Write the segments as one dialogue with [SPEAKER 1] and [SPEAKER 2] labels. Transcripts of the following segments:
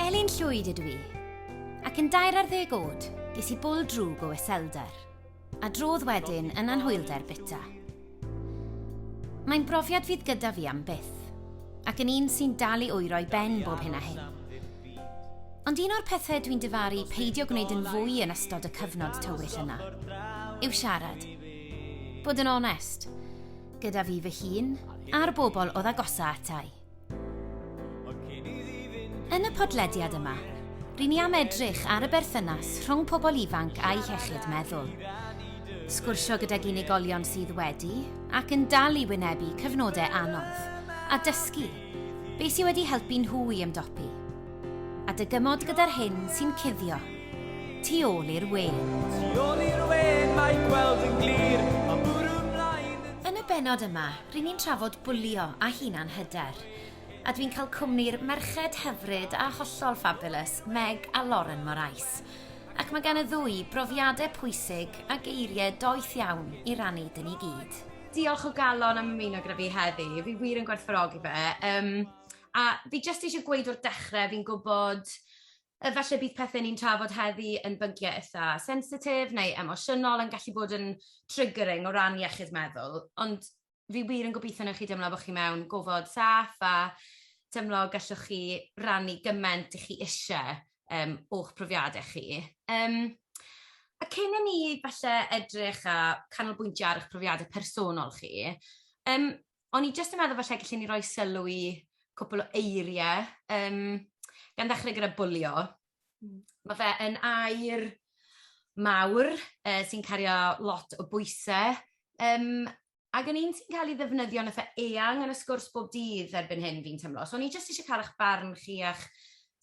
[SPEAKER 1] Elin Llwyd ydw i, ac yn dair ar ddeg oed, ges i bwl drwg o iselder, a drodd wedyn yn anhwylder bita. Mae'n brofiad fydd gyda fi am byth, ac yn un sy'n dal i oero i ben bob hyn a hyn. Ond un o'r pethau dwi'n dyfaru peidio gwneud yn fwy yn ystod y cyfnod tywyll yna yw siarad. Bod yn onest, gyda fi fy hun a'r bobl oedd agosa atai. Yn y podlediad yma, rydyn ni am edrych ar y berthynas rhwng pobl ifanc a'i hechyd meddwl. Sgwrsio gydag unigolion sydd wedi ac yn dal i wynebu cyfnodau anodd a dysgu beth sydd wedi helpu nhw i ymdopi. A dy gymod gyda'r hyn sy'n cuddio. Tu ôl i'r we. Tu ôl i'r we, mae gweld yn glir, a bwrw mlaen yn... Yn y benod yma, rŷn ni'n trafod bwlio a hunan hyder. A dwi'n cael cwmni'r merched hyfryd a hollol fabulous, Meg a Lauren Morais. Ac mae gan y ddwy brofiadau pwysig a geiriau doeth iawn i rannu dyn ni gyd. Diolch o galon am ymuno gyda fi heddi, fi wir yn gwerthfawrogi fe. Um, A fi jyst eisiau gweud o'r dechrau, fi'n gwybod yy falle bydd pethe ni'n trafod heddi yn bynciau itha sensitif neu emosiynol yn gallu bod yn triggering o ran iechyd meddwl, ond fi wir yn gobeithio wnewn chi deimlo bo' chi mewn gofod saff a teimlo gallwch chi rannu gyment 'dych chi isie yym o'ch profiade chi. Yym a cyn i ni falle edrych a canolbwyntio ar 'ych profiade personol chi yym o'n i jyst yn meddwl falle gallen ni roi sylw i cwpl o eirie yym gan ddechre gyda bwlio. Hmm. Ma' fe yn air mawr yy sy'n cario lot o bwyse yym ag yn un sy'n cael ei ddefnyddio'n itha eang yn y sgwrs bob dydd erbyn hyn fi'n teimlo. So o'n i jyst eisiau cael 'ych barn chi a'ch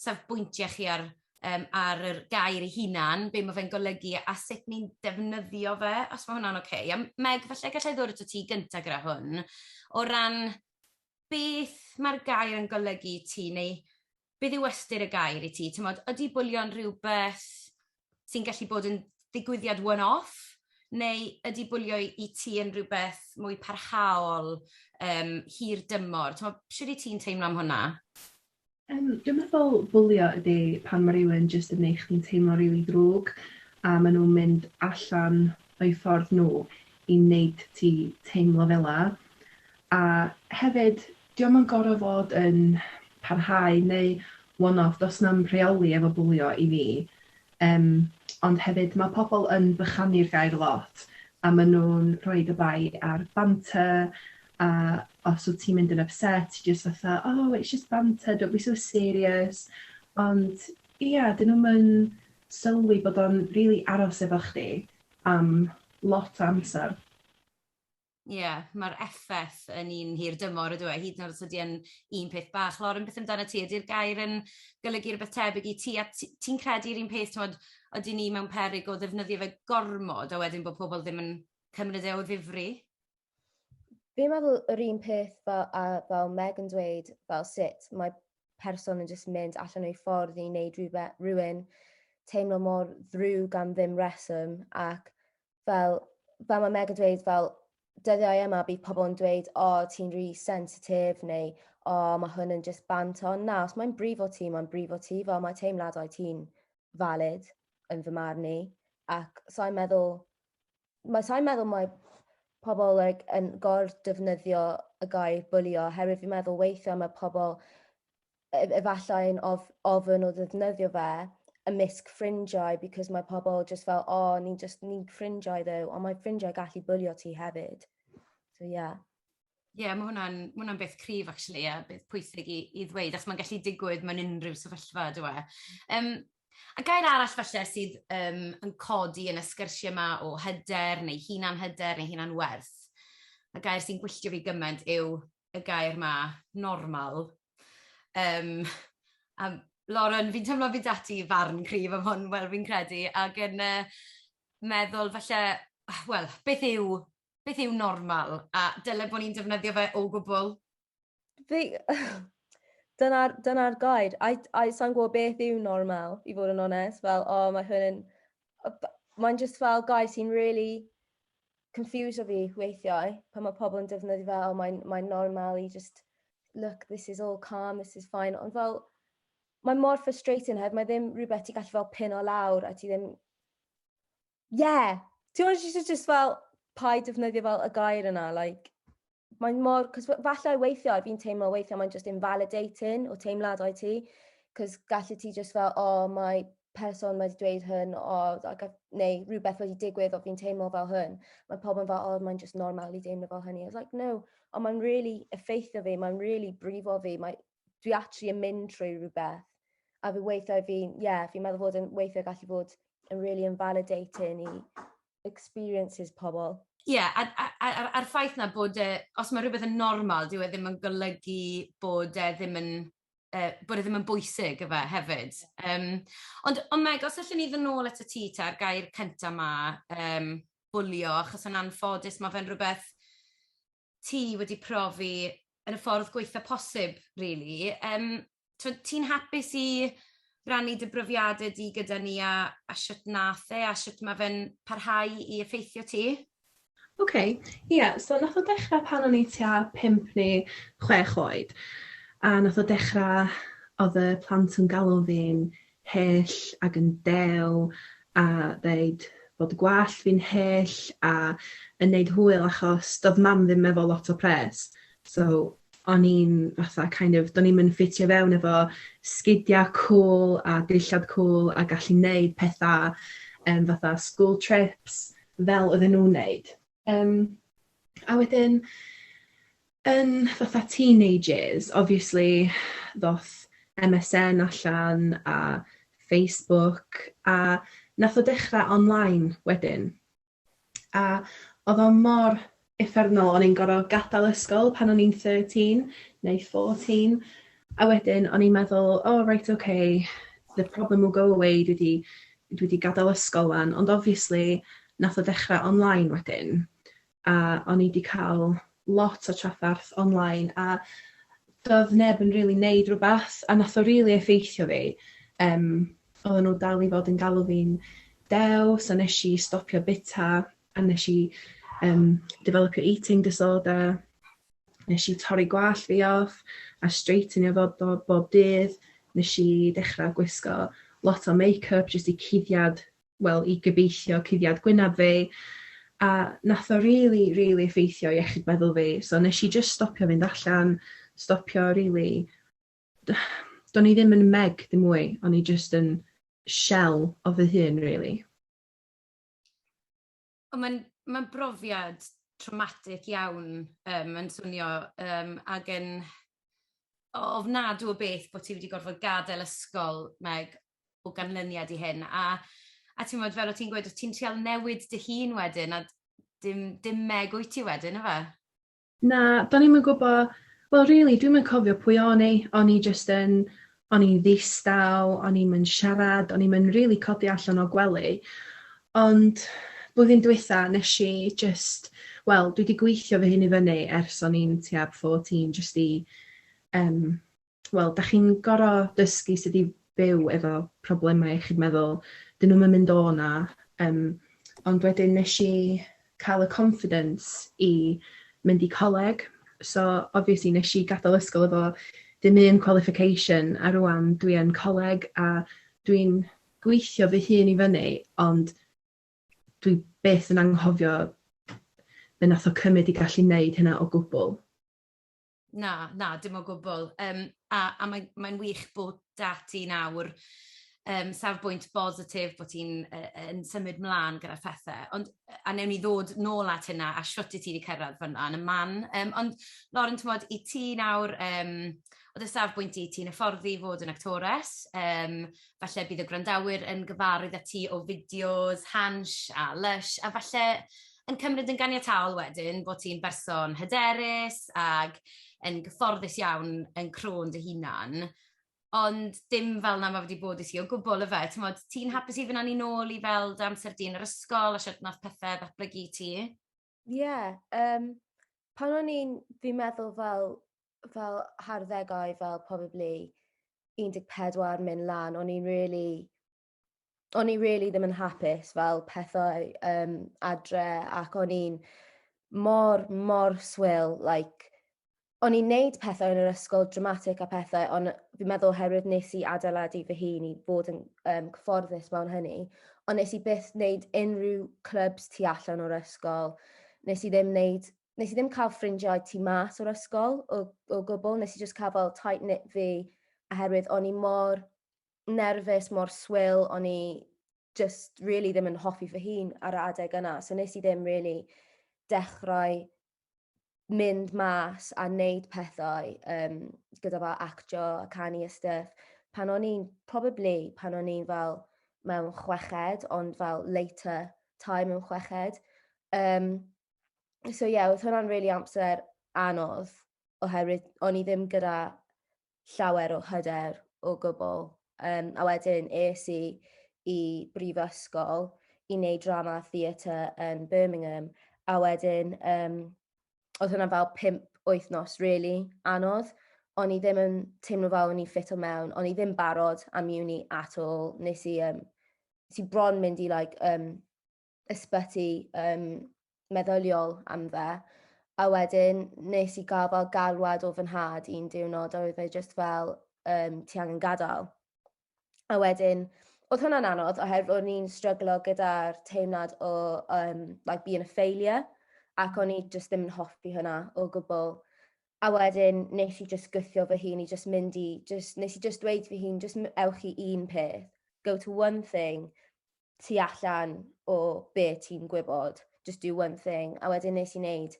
[SPEAKER 1] safbwyntie chi ar um, ar yr gair ei hunan, be mae fe'n golygu a sut ni'n defnyddio fe, os mae hwnna'n oce. Okay. A Meg, falle gallai ddod at ti gyntaf gyda hwn, o ran beth mae'r gair yn golygu ti, neu beth yw ystyr y gair i ti? Tymod, ydy bwlio'n rhywbeth sy'n gallu bod yn ddigwyddiad one-off, neu ydy bwlio i ti yn rhywbeth mwy parhaol, um, hir dymor? Tymod, sydd i ti'n teimlo am hwnna? Yym
[SPEAKER 2] dwi'n meddwl bwlio ydi pan ma' rywun jyst yn neu' chdi'n teimlo'n rili ddrwg a ma' nw'n mynd allan o'u ffordd nhw i neud ti teimlo fela. A hefyd, 'di o'm yn gor'o' fod yn parhau neu one-off, do's na'm rheoli efo bwlio i fi. Yym, ond hefyd ma' pobl yn bychanu'r gair lot, a ma' nhw'n rhoid y bai ar banter, a os wyt ti'n mynd yn ypset, ti jyst fatha, oh it's just banter, don't be so serious. Ond ia, 'dyn nhw'm yn sylwi bod o'n rili aros efo chdi am lot o amser.
[SPEAKER 1] Ie, mae'r effaith yn un hir dymor ydyw e, hyd yn oed os ydy e'n un peth bach. Lauren, beth amdana ti? Ydy'r gair yn golygu rhywbeth tebyg i ti? A ti- ti'n credu'r un peth, t'mod, ydyn ni mewn peryg o ddefnyddio fe gormod a wedyn bod pobl ddim yn cymryd e o ddifri?
[SPEAKER 3] Fi'n meddwl yr un peth fel, a fel Meg yn dweud, fel sut mae person yn jyst mynd allan o'i ffordd i wneud rhywbeth, rhywun teimlo mor ddrwg am ddim reswm ac fel, fel mae Meg yn dweud, fel, dyddiau yma bydd pobl yn dweud, o, oh, ti'n rhi sensitif, neu, o, oh, mae hwn yn just bant on. Na, os mae'n brif o ti, mae'n brif o ti, fel mae teimladau ti'n valid yn fy marn i. Ac sa'n meddwl, mae sa'n meddwl mae pobl like, yn gor defnyddio y gair bwlio, herwydd fi'n meddwl weithiau mae pobl e- efallai'n of- ofyn o ddefnyddio fe ymysg ffrindiau because mae pobl just fel, o, oh, ni'n just, ni'n ffrindiau ddew, ond mae ffrindiau gallu bwlio ti hefyd. So, ie. Yeah. Ie, yeah, mae
[SPEAKER 1] hwnna'n ma hwnna beth cryf, actually, a beth pwysig i, i ddweud, achos mae'n gallu digwydd mewn unrhyw sefyllfa, dwi e. Um, a gair arall falle sydd um, yn codi yn y sgyrsiau yma o hyder, neu hunan hyder, neu hunan werth, a gair sy'n gwylltio fi gymaint yw y gair 'ma, normal. Yym, a Lauren, fi'n teimlo fyd ati farn cryf am hwn, wel fi'n credu, ac yn yy meddwl falle, wel, beth yw beth yw normal, a dyle bod ni'n defnyddio fe o gwbl? Fi...
[SPEAKER 3] Dyna'r dyna gair. I I sa'n gwybod beth yw normal, i fod yn onest, fel, o, mae hwn yn a b- mae'n jyst fel gair sy'n rili confusio fi weithiau pan mae pobl yn defnyddio fe, "O mae'n mae'n normal i jyst look this is all calm, this is fine" ond fel mae mor frustrating oherwydd mae ddim rhywbeth ti gallu fel pin o lawr a ti ddim... Ie! Ti'n gwybod jyst jyst fel paid defnyddio fel y gair yna like mae'n mor... Cos falle weithiau, fi'n teimlo weithiau mae'n just invalidating o teimladau ti. Cos gallu ti just fel, o, oh, mae person wedi dweud hyn, o, oh, neu rhywbeth wedi digwydd o fi'n teimlo fel hyn. Mae pobl yn fel, o, oh, mae'n just normal i deimlo fel hynny. I was like, no, ond mae'n really effeithio fi, mae'n really brifo fi. Mae, dwi actually yn mynd trwy rhywbeth. A fi weithiau fi'n, ie, yeah, fi'n meddwl bod yn weithiau gallu bod yn really invalidating i experiences pobl. Ie, a'r a- a- a'r
[SPEAKER 1] a'r ffaith 'na bod e... Os mae rhywbeth yn normal, dyw e ddim yn golygu bod e ddim yn yy bod e ddim yn bwysig efe hefyd. Yym ond ond Meg, os allwn ni fyn' nôl atat ti ta'r gair cynta 'ma, yym bwlio, achos yn anffodus ma' fe'n rhywbeth ti wedi profi yn y ffordd gweitha posib, really. Um, ti'n hapus i rannu dy brofiadau di gyda ni a, a sut nath e a sut mae fe'n parhau i effeithio ti? Oce, okay. ie, yeah,
[SPEAKER 2] so nath o dechrau pan o'n i tua pimp neu chwech oed a nath o dechrau oedd y plant yn galw fi'n hyll ag yn dew a ddeud bod y gwallt fi'n hyll a yn neud hwyl achos do'dd mam ddim efo lot o pres so o'n i'n fatha kind of do'n i'm yn ffitio fewn efo sgidia cwl a dillad cwl a gallu neud petha yym fatha school trips fel oedden nhw'n neud. Um, a wedyn, yn fatha teenagers, obviously, ddoth MSN allan a Facebook, a nath o dechrau online wedyn. A oedd o mor effernol, o'n i'n gorfod gadael ysgol pan o'n i'n 13 neu 14, A wedyn o'n i'n meddwl o reit ok the problem will go away dwi 'di dwi 'di gadel ysgol 'wan ond obviously nath o dechra online wedyn a o'n i 'di ca'l lot o traffarth online a do'dd neb yn rili neud rwbath a nath o rili effeithio fi yym oddan n'w dal i fod yn galw fi'n dew so nesh i stopio bita a nes i um, developio eating disorder, nes i torri gwallt fi off a straightenio fo bob, bob dydd, nes i dechrau gwisgo lot o make-up jyst i cuddiad, wel i gybeithio cuddiad gwynab fi, a nath o really, really effeithio iechyd meddwl fi, so nes i jyst stopio fynd allan, stopio really, do'n i ddim yn meg dim mwy, o'n i jyst yn shell o fy hun really.
[SPEAKER 1] O mae'n mae'n brofiad traumatic iawn yym mae'n swnio yym ag yn o- ofnadw o beth bo' ti wedi gorfod gadel ysgol Meg o ganlyniad i hyn a a t'mod fel o' ti'n gweud o' ti'n trial newid dy hun wedyn a dim dim Meg wyt ti wedyn yfe? Na,
[SPEAKER 2] do'n i'm yn gwbo, wel rili dwi'm yn cofio pwy o'n i, o'n i jyst yn o'n i'n ddistaw, o'n i'm yn siarad, o'n i'm yn rili codi allan o gwely. Ond blwyddyn dwytha nes i jyst, wel dwi 'di gweithio fy hun i fyny ers o'n i'n tua 14 jyst i yym wel, da chi'n gorau dysgu sut i byw efo problemau iechyd meddwl. Dyn nhw'm yn mynd o 'na. Yym, ond wedyn nes i cael y confidence i mynd i coleg, so obviously nes i gadael ysgol efo dim un qualification, a rŵan dwi yn coleg a dwi'n gweithio fy hun i fyny, ond dwi byth yn anghofio be nath o cymryd i gallu neud hynna o gwbwl. Na,
[SPEAKER 1] na, dim o gwbl. Yym a a mae'n mae'n wych bod 'da ti nawr yym safbwynt bositif, bod ti'n yy yn symud mlaen gyda phethe, ond yy a newn ni ddod nôl at hynna a shwt i ti 'di cyrradd fyn'na yn y man yym ond Lauren t'mod i ti nawr yym o dy safbwynt di ti'n hyfforddi i fod yn actores yym falle bydd y gwrandawyr yn gyfarwydd â ti o fideos Hansh a Lysh a falle yn cymryd yn ganiataol wedyn bod ti'n berson hyderus ac yn gyfforddus iawn yn crôn dy hunan, ond dim fel 'na ma' fe 'di bod i ti o gwbwl yfe, t'mod ti'n hapus i fyn' â ni nôl i fel dy amser di yn yr ysgol a shwt nath pethe ddatblygu i ti? Ie yym
[SPEAKER 3] pan o'n i'n fi'n meddwl fel fel harddegau fel probably un deg pedwar myn' lan o'n i'n rili o'n i rili ddim yn hapus fel pethau yym adre ac o'n i'n mor mor swil like o'n i'n neud pethau yn yr ysgol dramatic a pethau on' fi'n meddwl oherwydd nes i adeiladu fy hun i fod yn yym cyfforddus mewn hynny on' nes i byth neud unrhyw clybs tu allan o'r ysgol nes i ddim neud nes i ddim cael ffrindiau tu mas o'r ysgol o o gwbwl nes i jyst cael fel tight knit fi oherwydd o'n i mor nerfus, mor swil, o'n i just really ddim yn hoffi fy hun ar y adeg yna. So nes i ddim really dechrau mynd mas a wneud pethau um, gyda fel actio a canu a stuff. Pan o'n i'n, probably, pan o'n i'n fel mewn chweched, ond fel later time mewn chweched. Um, so ie, yeah, oedd hwnna'n really amser anodd, oherwydd o'n i ddim gyda llawer o hyder o gwbl. Yym, a wedyn es i i brifysgol i wneud drama a theatre yn Birmingham, a wedyn um, oedd hwnna fel pimp wythnos really anodd. O'n i ddim yn teimlo fel o'n i ffit o mewn, o'n i ddim barod am uni at all. Nes i, um, nes i bron mynd i like, um, ysbyty um, meddyliol am fe. A wedyn nes i gael fel galwad o fy nhad un diwrnod a oedd e just fel, um, ti angen gadael. A wedyn, oedd hwnna'n anodd oherwydd o'n i'n stryglo gyda'r teimlad o um, like being a failure ac o'n i just ddim yn hoffi hynna o gwbl. A wedyn nes i just gythio fy hun i just mynd i, just, nes i just dweud fy hun, just ewch i un peth, go to one thing, tu allan o be ti'n gwybod, just do one thing. A wedyn nes i wneud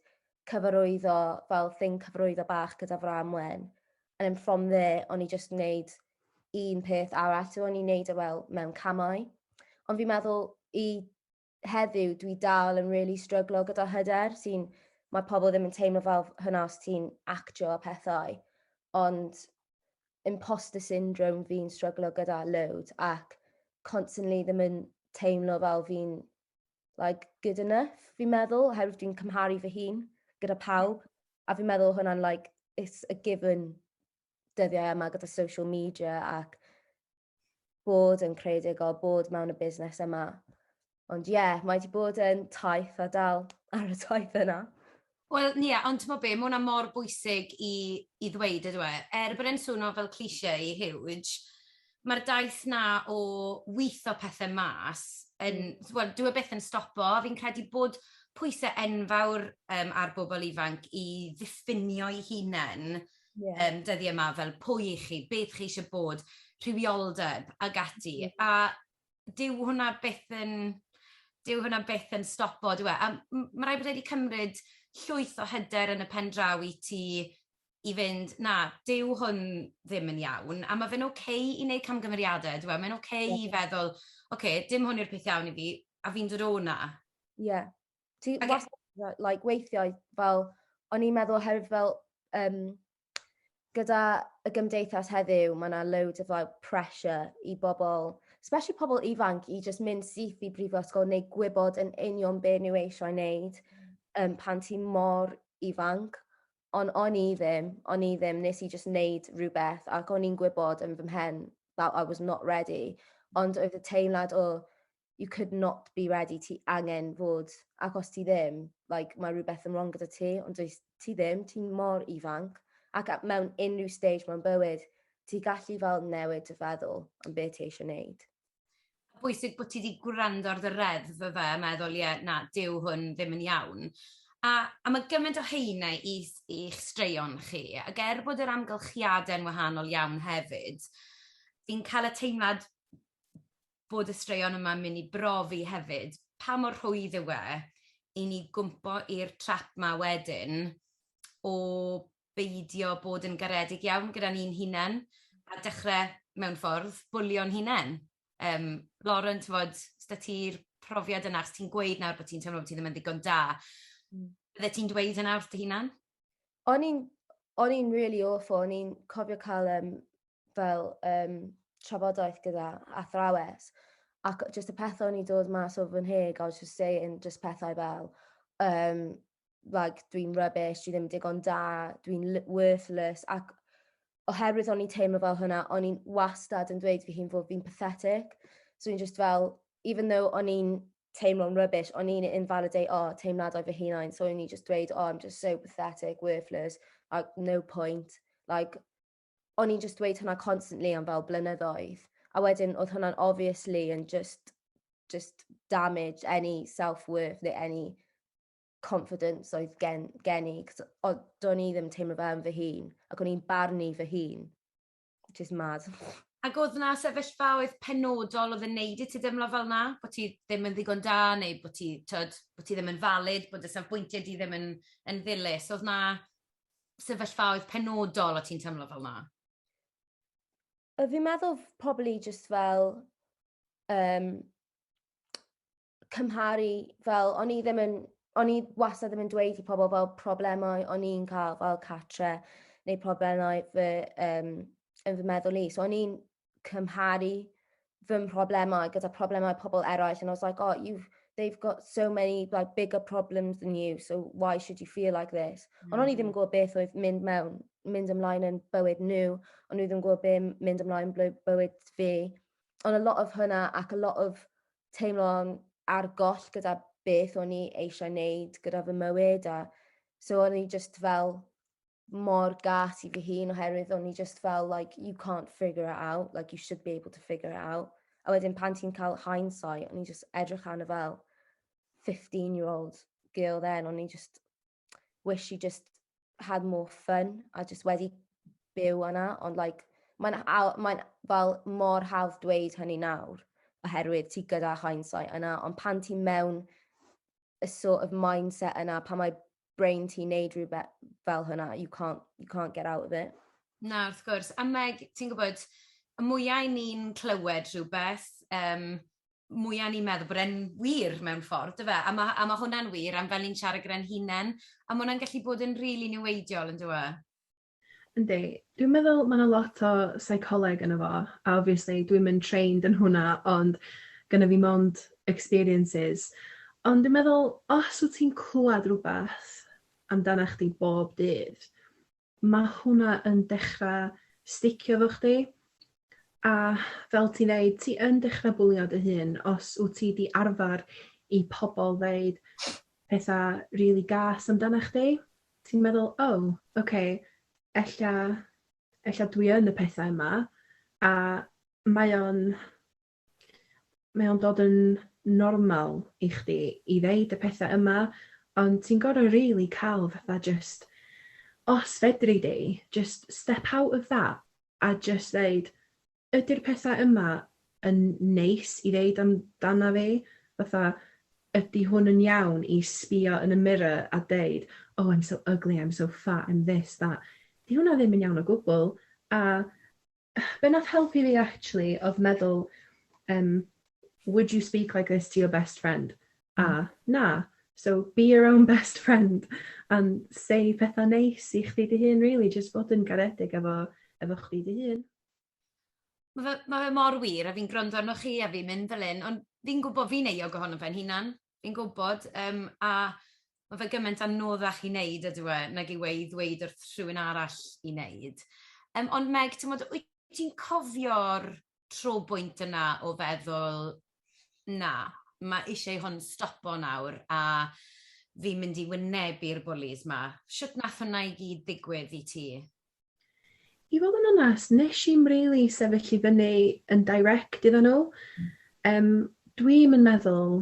[SPEAKER 3] cyfarwyddo, fel thing cyfarwyddo bach gyda Fram Wen. And then from there, o'n i just wneud un peth arall, so o'n i'n wneud e fel mewn camau. Ond fi'n meddwl i heddiw dwi dal yn really stryglo gyda hyder sy'n mae pobl ddim yn teimlo fel hynna os ti'n actio a pethau. Ond imposter syndrome fi'n stryglo gyda loads ac constantly ddim yn teimlo fel fi'n like, good enough, fi'n meddwl, oherwydd dwi'n cymharu fy hun gyda pawb. A fi'n meddwl hwnna'n, like, it's a given dyddiau yma gyda social media ac bod yn creadigol, bod mewn y busnes yma. Ond ie, yeah, mae wedi bod yn taith a dal ar y taith yna. Wel, ie, yeah,
[SPEAKER 1] ond ti'n be, mae hwnna mor bwysig i, i ddweud ydw e. Er bod e'n swnio fel cliché i huge, mae'r daith na o wyth o pethau mas, yn, mm. well, dwi e beth yn stopo, fi'n credu bod pwysau enfawr um, ar bobl ifanc i ddiffinio'i hunain yeah. um, dyddi yma, fel pwy i chi, beth chi eisiau bod, rhywioldeb ag ati. Mm. A dyw hwnna beth yn, dyw hwnna beth yn stopo, dyw e. A mae rhaid bod wedi cymryd llwyth o hyder yn y pen draw i ti i fynd, na, dyw hwn ddim yn iawn, a mae fe'n oce okay i wneud camgymeriadau, dyw e, mae'n oce okay yeah. i feddwl, oce, okay, dim hwn yw'r peth iawn i fi, a fi'n dod o'na. Ie. Yeah. Ti okay. wastad,
[SPEAKER 3] like, weithiau, fel, o'n i'n meddwl oherwydd fel, um, gyda y gymdeithas heddiw, mae yna loads of like, pressure i bobl, especially pobl ifanc, i just mynd syth i brifysgol neu gwybod yn union be nhw eisiau wneud um, pan ti mor ifanc. Ond o'n i ddim, o'n i ddim, nes i just wneud rhywbeth ac o'n i'n gwybod yn fy mhen that I was not ready. Ond oedd y teimlad o, you could not be ready, ti angen fod, ac os ti ddim, like, mae rhywbeth yn wrong gyda ti, ond dwi, ti ddim, ti'n mor ifanc, ac mewn unrhyw stage mewn bywyd, ti gallu fel newid dy feddwl am beth ti eisiau gwneud. Bwysig
[SPEAKER 1] bod ti wedi gwrando ar dy reddf fe fe, meddwl, ie, na, dyw hwn ddim yn iawn. A, a mae gymaint o heine i, i'ch straeon chi, ac er bod yr amgylchiadau'n wahanol iawn hefyd, fi'n cael y teimlad bod y straeon yma'n mynd i brofi hefyd pa mor rhwydd yw e i ni gwmpo i'r trap 'ma wedyn o beidio bod yn garedig iawn gyda ni'n hunain a dechre, mewn ffordd, bwlio'n hunain. Yym, Lauren, t'mod, 's 'da ti'r profiad yna, os ti'n gweud nawr bo' ti'n teimlo bo' ti ddim yn ddigon da... Mm. ...byddet ti'n dweud hynna wrth dy hunan?
[SPEAKER 3] o'n i'n o'n i'n really awful, o'n i'n cofio cael um, fel um, trafodaeth gyda athrawes, ac just y pethau o'n i'n dod mas o fy nheg, I was just saying just pethau fel, um, like, dwi'n rubbish, dwi ddim digon da, dwi'n worthless, ac oherwydd o'n i'n teimlo fel hynna, o'n i'n wastad yn dweud fy hun fod fi'n pathetic, so o'n i'n just fel, even though o'n i'n teimlo'n rubbish, o'n i'n invalidate o oh, teimladau fy hunain, so o'n i'n just dweud, oh, I'm just so pathetic, worthless, like, no point, like, o'n i'n just dweud hwnna constantly am fel blynyddoedd. A wedyn, oedd hwnna'n obviously yn just, just damage any self-worth neu any confidence oedd gen, gen i. Cos do'n i ddim teimlo fe am fy hun, ac o'n i'n barnu fy hun. Just mad. Ac oedd yna
[SPEAKER 1] sefyllfaoedd penodol oedd yn neud i ti deimlo fel na? Bod ti ddim yn ddigon da neu bod ti, tyd, bod ti ddim yn valid, bod y safbwyntiau di ddim yn, yn ddilys. Oedd yna sefyllfaoedd penodol o ti'n teimlo fel na? Fi'n
[SPEAKER 3] meddwl pobl i just fel um, cymharu fel o'n i ddim yn o'n i wastad ddim yn dweud i pobl fel problemau o'n i'n cael fel catre neu problemau fy um, yn fy meddwl i. So o'n i'n cymharu fy mhroblemau gyda problemau pobl eraill and I was like, oh, you've, they've got so many like bigger problems than you, so why should you feel like this? Mm. Ond o'n i ddim yn mm. gwybod beth oedd mynd mewn, mynd ymlaen yn bywyd nhw, ond nhw ddim yn gwybod beth mynd ymlaen yn bywyd fi. Ond a lot of hwnna ac a lot of teimlo'n ar goll gyda beth o'n i eisiau wneud gyda fy mywyd a so o'n i just fel mor gas i fy hun oherwydd o'n i just fel like you can't figure it out like you should be able to figure it out a wedyn pan ti'n cael hindsight o'n i just edrych arno fel 15 year old girl then o'n i just wish she just had more fun a just wedi byw yna ond like mae'n mae'n fel mor hawdd dweud hynny nawr oherwydd ti gyda hindsight yna ond pan ti mewn y sort of mindset yna pan mae brain ti'n neud rhywbeth fel hynna you can't, you can't get out of it. Na, wrth gwrs.
[SPEAKER 1] A Meg, ti'n gwybod, y mwyau ni'n clywed rhywbeth, um, mwya ni'n meddwl bod e'n wir mewn ffordd, dyfe? A ma' a ma' hwnna'n wir am fel ni'n siarad gyda'n hunen, a ma' hwnna'n gallu bod yn rili niweidiol yndyw e? Yndi.
[SPEAKER 2] Dwi'n meddwl ma' 'na lot o seicoleg yno fo, a obviously dwi'm yn trained yn hwnna ond gynna fi mond experiences ond dwi'n meddwl os wt ti'n clwad rwbath amdanach chdi bob dydd ma' hwnna yn dechra sticio efo chdi a fel ti'n ddeud ti yn dechra bwlio dy hun os wt ti 'di arfar i pobol ddeud petha rili gas amdana chdi ti'n meddwl o oce ella ella dwi yn y pethau yma a mae o'n Mae o'n dod yn normal i chdi i ddeud y petha yma, ond ti'n gor'o' rili ca'l fatha jyst, os fedri di, jyst step out of that a jyst ddeud, 'Ydi'r petha yma yn neis i ddeud amdana fi? Fatha, ydi hwn yn iawn i sbïo yn y mirror a deud, 'Oh I'm so ugly, I'm so fat, I'm this, that'? 'Di hwnna ddim yn iawn o gwbwl, a be nath helpu fi actually odd meddwl um, would you speak like this to your best friend? A, hmm. na. So be your own best friend and say pethau neis i chdi dy hun, really, just bod yn garedig efo, efo chdi dy hun.
[SPEAKER 1] Mae fe, ma fe mor wir, a fi'n gwrando arnoch chi a fi'n mynd fel un, ond fi'n gwybod fi'n eio gohono fe'n hunan. Fi'n gwybod, yym, a ma' fe gyment anoddach i neud ydyw e, nag yw e i ddweud wrth rhywun arall i neud. Yym, ond Meg, t'mod, wyt ti'n cofio'r tro bwynt yna o feddwl, na, ma' isie i hwn stopo nawr, a fi'n mynd i wynebu'r bwlis ma'? Shwt nath hwnna i gyd ddigwydd i ti?
[SPEAKER 2] I fod yn onest, nes i'm rili sefyll i fyny yn direct iddyn nhw. Um, Dwi'm yn meddwl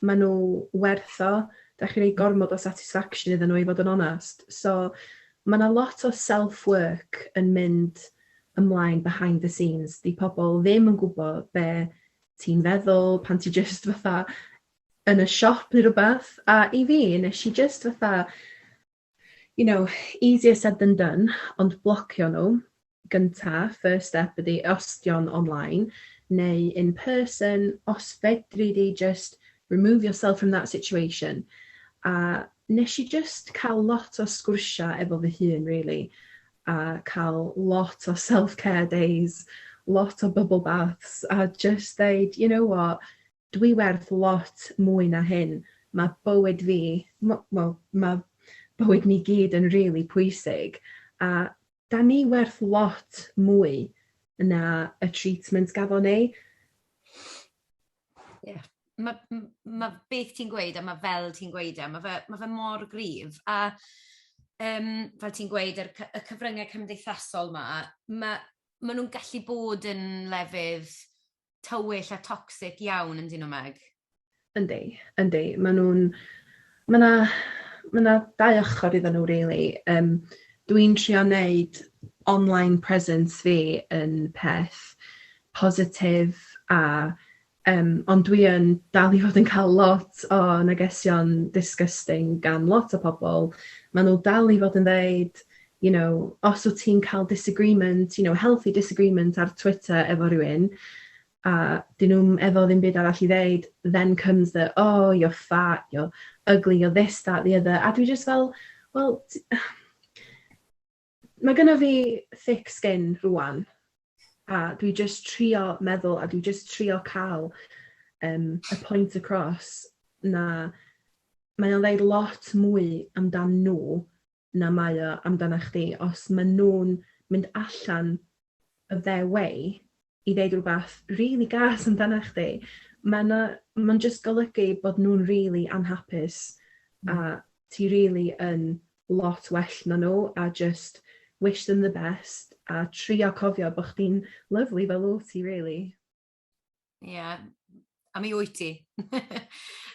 [SPEAKER 2] maen nhw werth o. Da chi rei gormod o satisfaction iddyn nhw i fod yn onest. So, mae yna lot o self-work yn mynd ymlaen behind the scenes. Di pobl ddim yn gwybod be ti'n feddwl pan ti just fatha yn y siop neu rhywbeth. A i fi, nes i just fatha you know, easier said than done, ond blocio nhw gynta, first step ydi os dion online neu in person, os fedri di just remove yourself from that situation. A nes i just cael lot o sgwrsiau efo fy hun really, a cael lot o self-care days, lot o bubble baths, a just ddeud, you know what, Dwi werth lot mwy na hyn, ma' bywyd fi, m- wel, ma' bywyd ni gyd yn rili pwysig, a 'dan ni werth lot mwy na y treatment gafon ni. Ie,
[SPEAKER 1] ma' m- ma' beth ti'n gweud a ma' fel ti'n gweud e ma' fe ma' fe mor gryf a yym fel ti'n gweud yr cy- y cyfrynge cymdeithasol 'ma ma' ma' nw'n gallu bod yn lefydd tywyll a toxic iawn yn dyn nhw Meg. Yndi,
[SPEAKER 2] yndi. Maen nhw'n... Mae yna ma na dau ochr iddyn nhw really. Um, Dwi'n trio wneud online presence fi yn peth positif a um, ond dwi yn dal i fod yn cael lot o negesion disgusting gan lot o pobl. Maen nhw dal i fod yn ddeud you know, os wt ti'n cael disagreement, you know, healthy disagreement ar Twitter efo rhywun, a 'dyn nhw'm efo ddim byd arall i ddeud, then comes the oh you're fat, you're ugly, you're this, that, the other, a dwi jyst fel, wel, mae gynna fi thick skin rwan, a dwi jyst trio meddwl, a dwi jyst trio cael um, y point across na mae o'n ddeud lot mwy amdan nhw na mae o amdanach chdi, os ma' nw'n mynd allan of their way i ddeud rwbath rili gas amdanach chdi ma' 'na ma'n jyst golygu bod nw'n rili anhapus a ti rili yn lot well na nw a jyst wish them the best a trio cofio bo' chdi'n lyfli fel wt ti rili. Ie.
[SPEAKER 1] A mi wyt ti.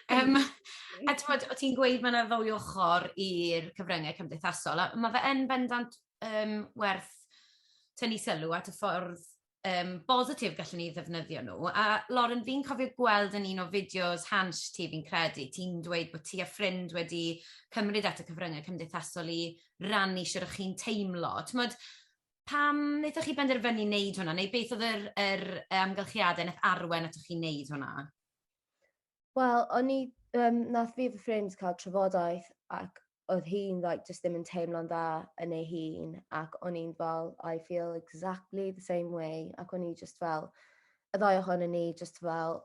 [SPEAKER 1] Yym a t'mod o' ti'n gweud ma' 'na ddwy ochor i'r cyfrynge cymdeithasol a ma' fe yn bendant yym werth tynnu sylw at y ffordd yym bositif gallwn ni ddefnyddio nw a Lauren fi'n cofio gweld yn un o fideos Hansh ti fi'n credu ti'n dweud bo' ti a ffrind wedi cymryd at y cyfrynge cymdeithasol i rannu shwd o'ch chi'n teimlo t'mod Pam wnaethoch chi benderfynu wneud hwnna, neu beth oedd yr, yr amgylchiadau wnaeth arwen atoch chi wneud hwnna?
[SPEAKER 3] Wel, o'n i, um, nath fi fy ffrind cael trafodaeth ac oedd hi'n like, just ddim yn teimlo'n dda yn ei hun ac o'n i'n fel, I feel exactly the same way ac o'n i just fel, y ddau ohonyn ni just fel,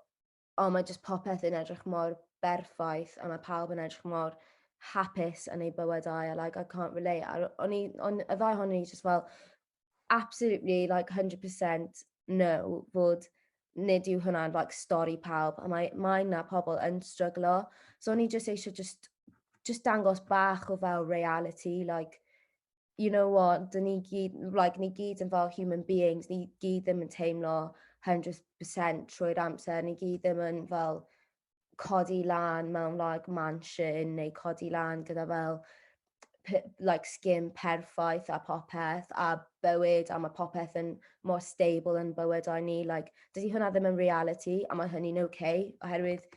[SPEAKER 3] O, mae jyst popeth yn edrych mor berffaith a mae pawb yn edrych mor hapus yn ei bywydau a like, I can't relate. A o'n i, on, y ddau hon i just fel, absolutely, like 100% no, fod nid yw hwnna'n like, stori pawb, a mae, mae na pobl yn stryglo. So o'n i just eisiau just, just dangos bach o fel reality, like, you know what 'dyn ni gyd like ni gyd yn fel human beings ni gyd ddim yn teimlo hundred percent trwy'r amser ni gyd ddim yn fel codi lan mewn like mansion neu codi lan gyda fel p- like sgim perffaith a popeth a bywyd a mae popeth yn mor stable yn bywydau ni like dydy hwnna ddim yn reality a mae hynny'n okay oherwydd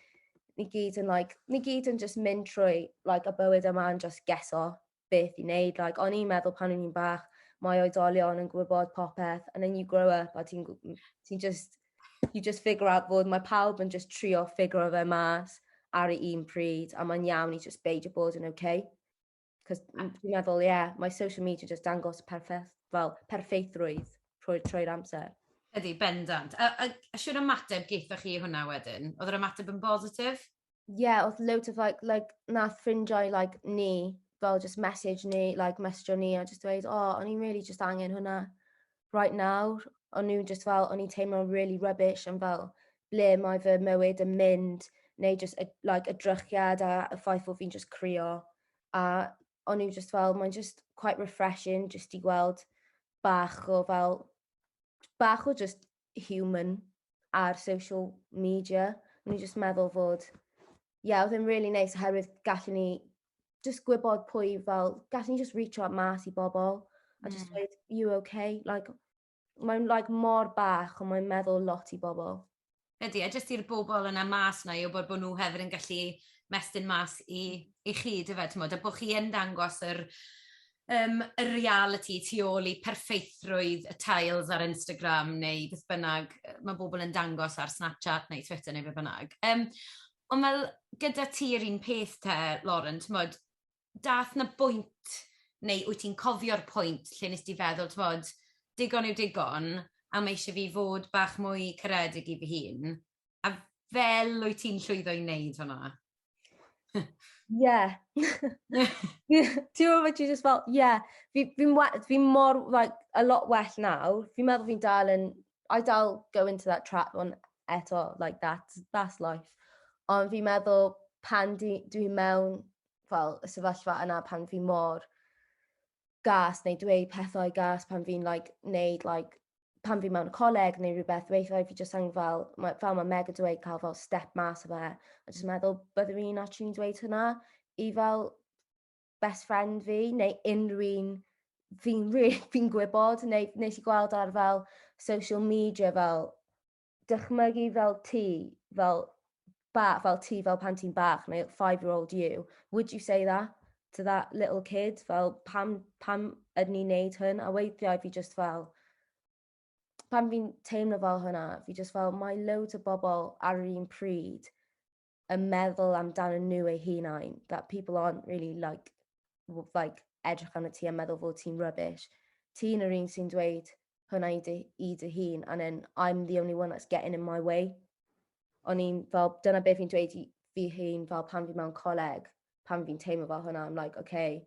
[SPEAKER 3] ni gyd yn like ni gyd yn just mynd trwy like y bywyd yma yn just geso beth i wneud. Like, o'n i'n meddwl pan o'n i'n bach, mae oedolion yn gwybod popeth, and then you grow up a ti'n ti just, you just figure out bod mae pawb yn just trio ffigur fe mas ar y un pryd, a mae'n iawn i just beidio bod yn okay. Cos dwi'n meddwl, ie, yeah, mae social media just dangos perffaith, fel, perffaithrwydd trwy'r trwy amser. Ydy, bendant.
[SPEAKER 1] A, a, a siwr ymateb geithoch chi hwnna wedyn? Oedd yr ymateb yn bositif? Ie odd loads
[SPEAKER 3] of like like nath ffrindiau like ni fel jyst mesij ni like mesjo ni a jyst dweud o o'n i'n rili jyst angen hwnna right nawr. O'n nw jyst fel o'n i'n teimlo'n rili rubbish am fel ble mae fy mywyd yn mynd neu jyst y like y drychiad a y ffaith bo' fi'n jyst crio a o'n nw jyst fel mae'n jyst quite refreshing jyst i gweld bach o fel bach o jyst human ar social media. O'n i jyst meddwl fod, ie, yeah, oedd e'n really neis nice, oherwydd gallu ni just gwybod pwy fel, gallu ni just reach out mas i bobl, a just mm. dweud, you okay? Like, mae'n like, mor bach, ond mae'n meddwl lot i bobl. Ydy, a jyst
[SPEAKER 1] i'r bobl yna mas na i wybod bod nhw hefyd yn gallu mestyn mas i, i chi, dy fe, a bod chi yn dangos yr, yym y realiti tu ôl i perffeithrwydd y tiles ar Instagram neu beth bynnag yy ma' bobl yn dangos ar Snapchat neu Twitter neu be' bynnag. Yym ond fel gyda ti yr un peth te Lauren t'mod dath 'na bwynt neu wyt ti'n cofio'r pwynt lle nes di feddwl t'mod digon yw digon a ma' isie fi fod bach mwy caredig i fy hun? A fel wyt ti'n llwyddo i wneud hwnna? Yeah.
[SPEAKER 3] Ti'n meddwl ti just fel, yeah. Fi, fi, fi mor, like, a lot well nawr. Fi'n meddwl fi'n dal yn, I dal go into that trap on eto, like, that's, that's life. Ond fi'n meddwl pan dwi'n dwi mewn, fel, y sefyllfa yna pan fi mor, gas neu dweud pethau gas pan fi'n like, neud like, pan fi mewn coleg neu rhywbeth, weithiau fi jyst yn fel, ma, fel mae Meg yn dweud, cael fel step mas o fe, a jyst meddwl byddwn i'n actually'n dweud hynna i fel best friend fi, neu unrhyw un fi'n really, fi gwybod, neu nes i gweld ar fel social media fel dychmygu fel ti, fel ba, fel ti, fel pan ti'n bach, neu five-year-old you, would you say that to that little kid? Fel, pam, pam ydyn ni'n neud hyn? A weithiau fi just fel, pan fi'n teimlo fel hwnna, fi just fel, mae loads o bobl ar yr un pryd yn meddwl amdanyn nhw eu hunain, that people aren't really like, like edrych arno ti a meddwl fod ti'n rubbish. Ti'n yr un sy'n dweud hwnna i dy, i dy hun, and then I'm the only one that's getting in my way. O'n i'n fel, dyna beth fi'n dweud i fi hun fel pan fi mewn coleg, pan fi'n teimlo fel hwnna, I'm like, okay,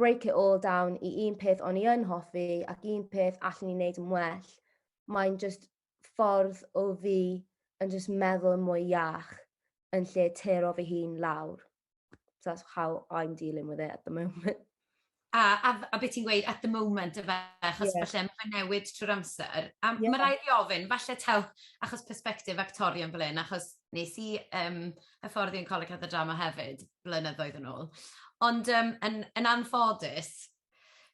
[SPEAKER 3] break it all down i un peth o'n i yn hoffi ac un peth allwn i wneud yn well, mae'n just ffordd o fi yn just meddwl yn mwy iach yn lle tero fy hun lawr. So that's how I'm dealing with it at the moment. A, a,
[SPEAKER 1] a beth ti'n gweud at the moment, efe, achos yeah. falle mae'n newid trwy'r amser. A yeah. mae rhaid i ofyn, falle taw, achos perspektif actorion fel un, achos nes i um, hyfforddi yn Coleg Cathedral Drama hefyd, blynyddoedd yn ôl. Ond um, yn, yn anffodus,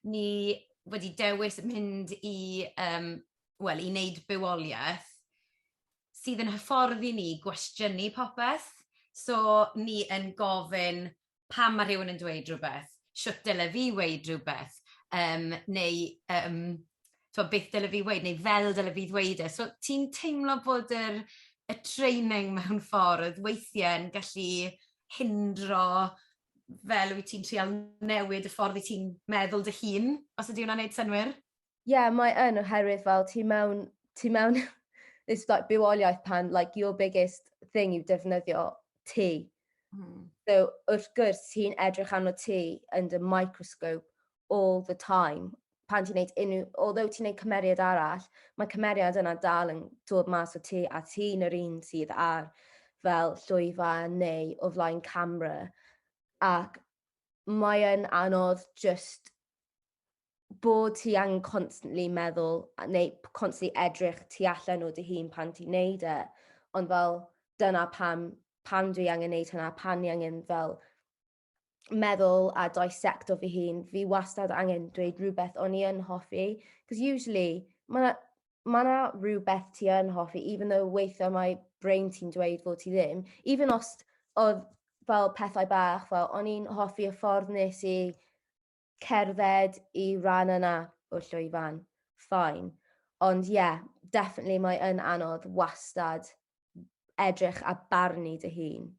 [SPEAKER 1] ni wedi dewis mynd i, um, well, i wneud bywoliaeth sydd yn hyfforddi ni gwestiynu popeth. So, ni yn gofyn pam mae rhywun yn dweud rhywbeth, siwt dyle fi weid rhywbeth, um, neu um, tibod, beth dyle fi weud, neu fel dyle fi ddweud e. So, ti'n teimlo bod yr, y training mewn ffordd weithiau yn gallu hindro fel wyt ti'n trial newid y ffordd i ti'n meddwl dy hun, os ydy hwnna'n neud synwyr? Ie, yeah, mae yn
[SPEAKER 3] oherwydd fel ti mewn, ti mewn this like bywoliaeth pan like your biggest thing yw defnyddio ti. Mm. So wrth gwrs ti'n edrych arno ti yn dy microscope all the time pan ti'n neud unrhyw... Although ti'n neud cymeriad arall, mae cymeriad yna dal yn dod mas o ti a ti'n yr un sydd ar fel llwyfan neu o flaen camera ac mae'n anodd just bod ti angen constantly meddwl neu constantly edrych tu allan o dy hun pan ti'n neud e. Ond fel dyna pam pan dwi angen neud hwnna, pan ni angen fel meddwl a dissecto fy hun, fi wastad angen dweud rhywbeth o'n i yn hoffi, because usually mae ma na rhywbeth ti yn hoffi, even though weithiau mae brain ti'n dweud fod ti ddim, even os oedd fel pethau bach, fel o'n i'n hoffi y ffordd nes i cerdded i ran yna o'r llwyfan, fine. Ond ie, definitely mae yn anodd wastad edrych a barnu dy hun.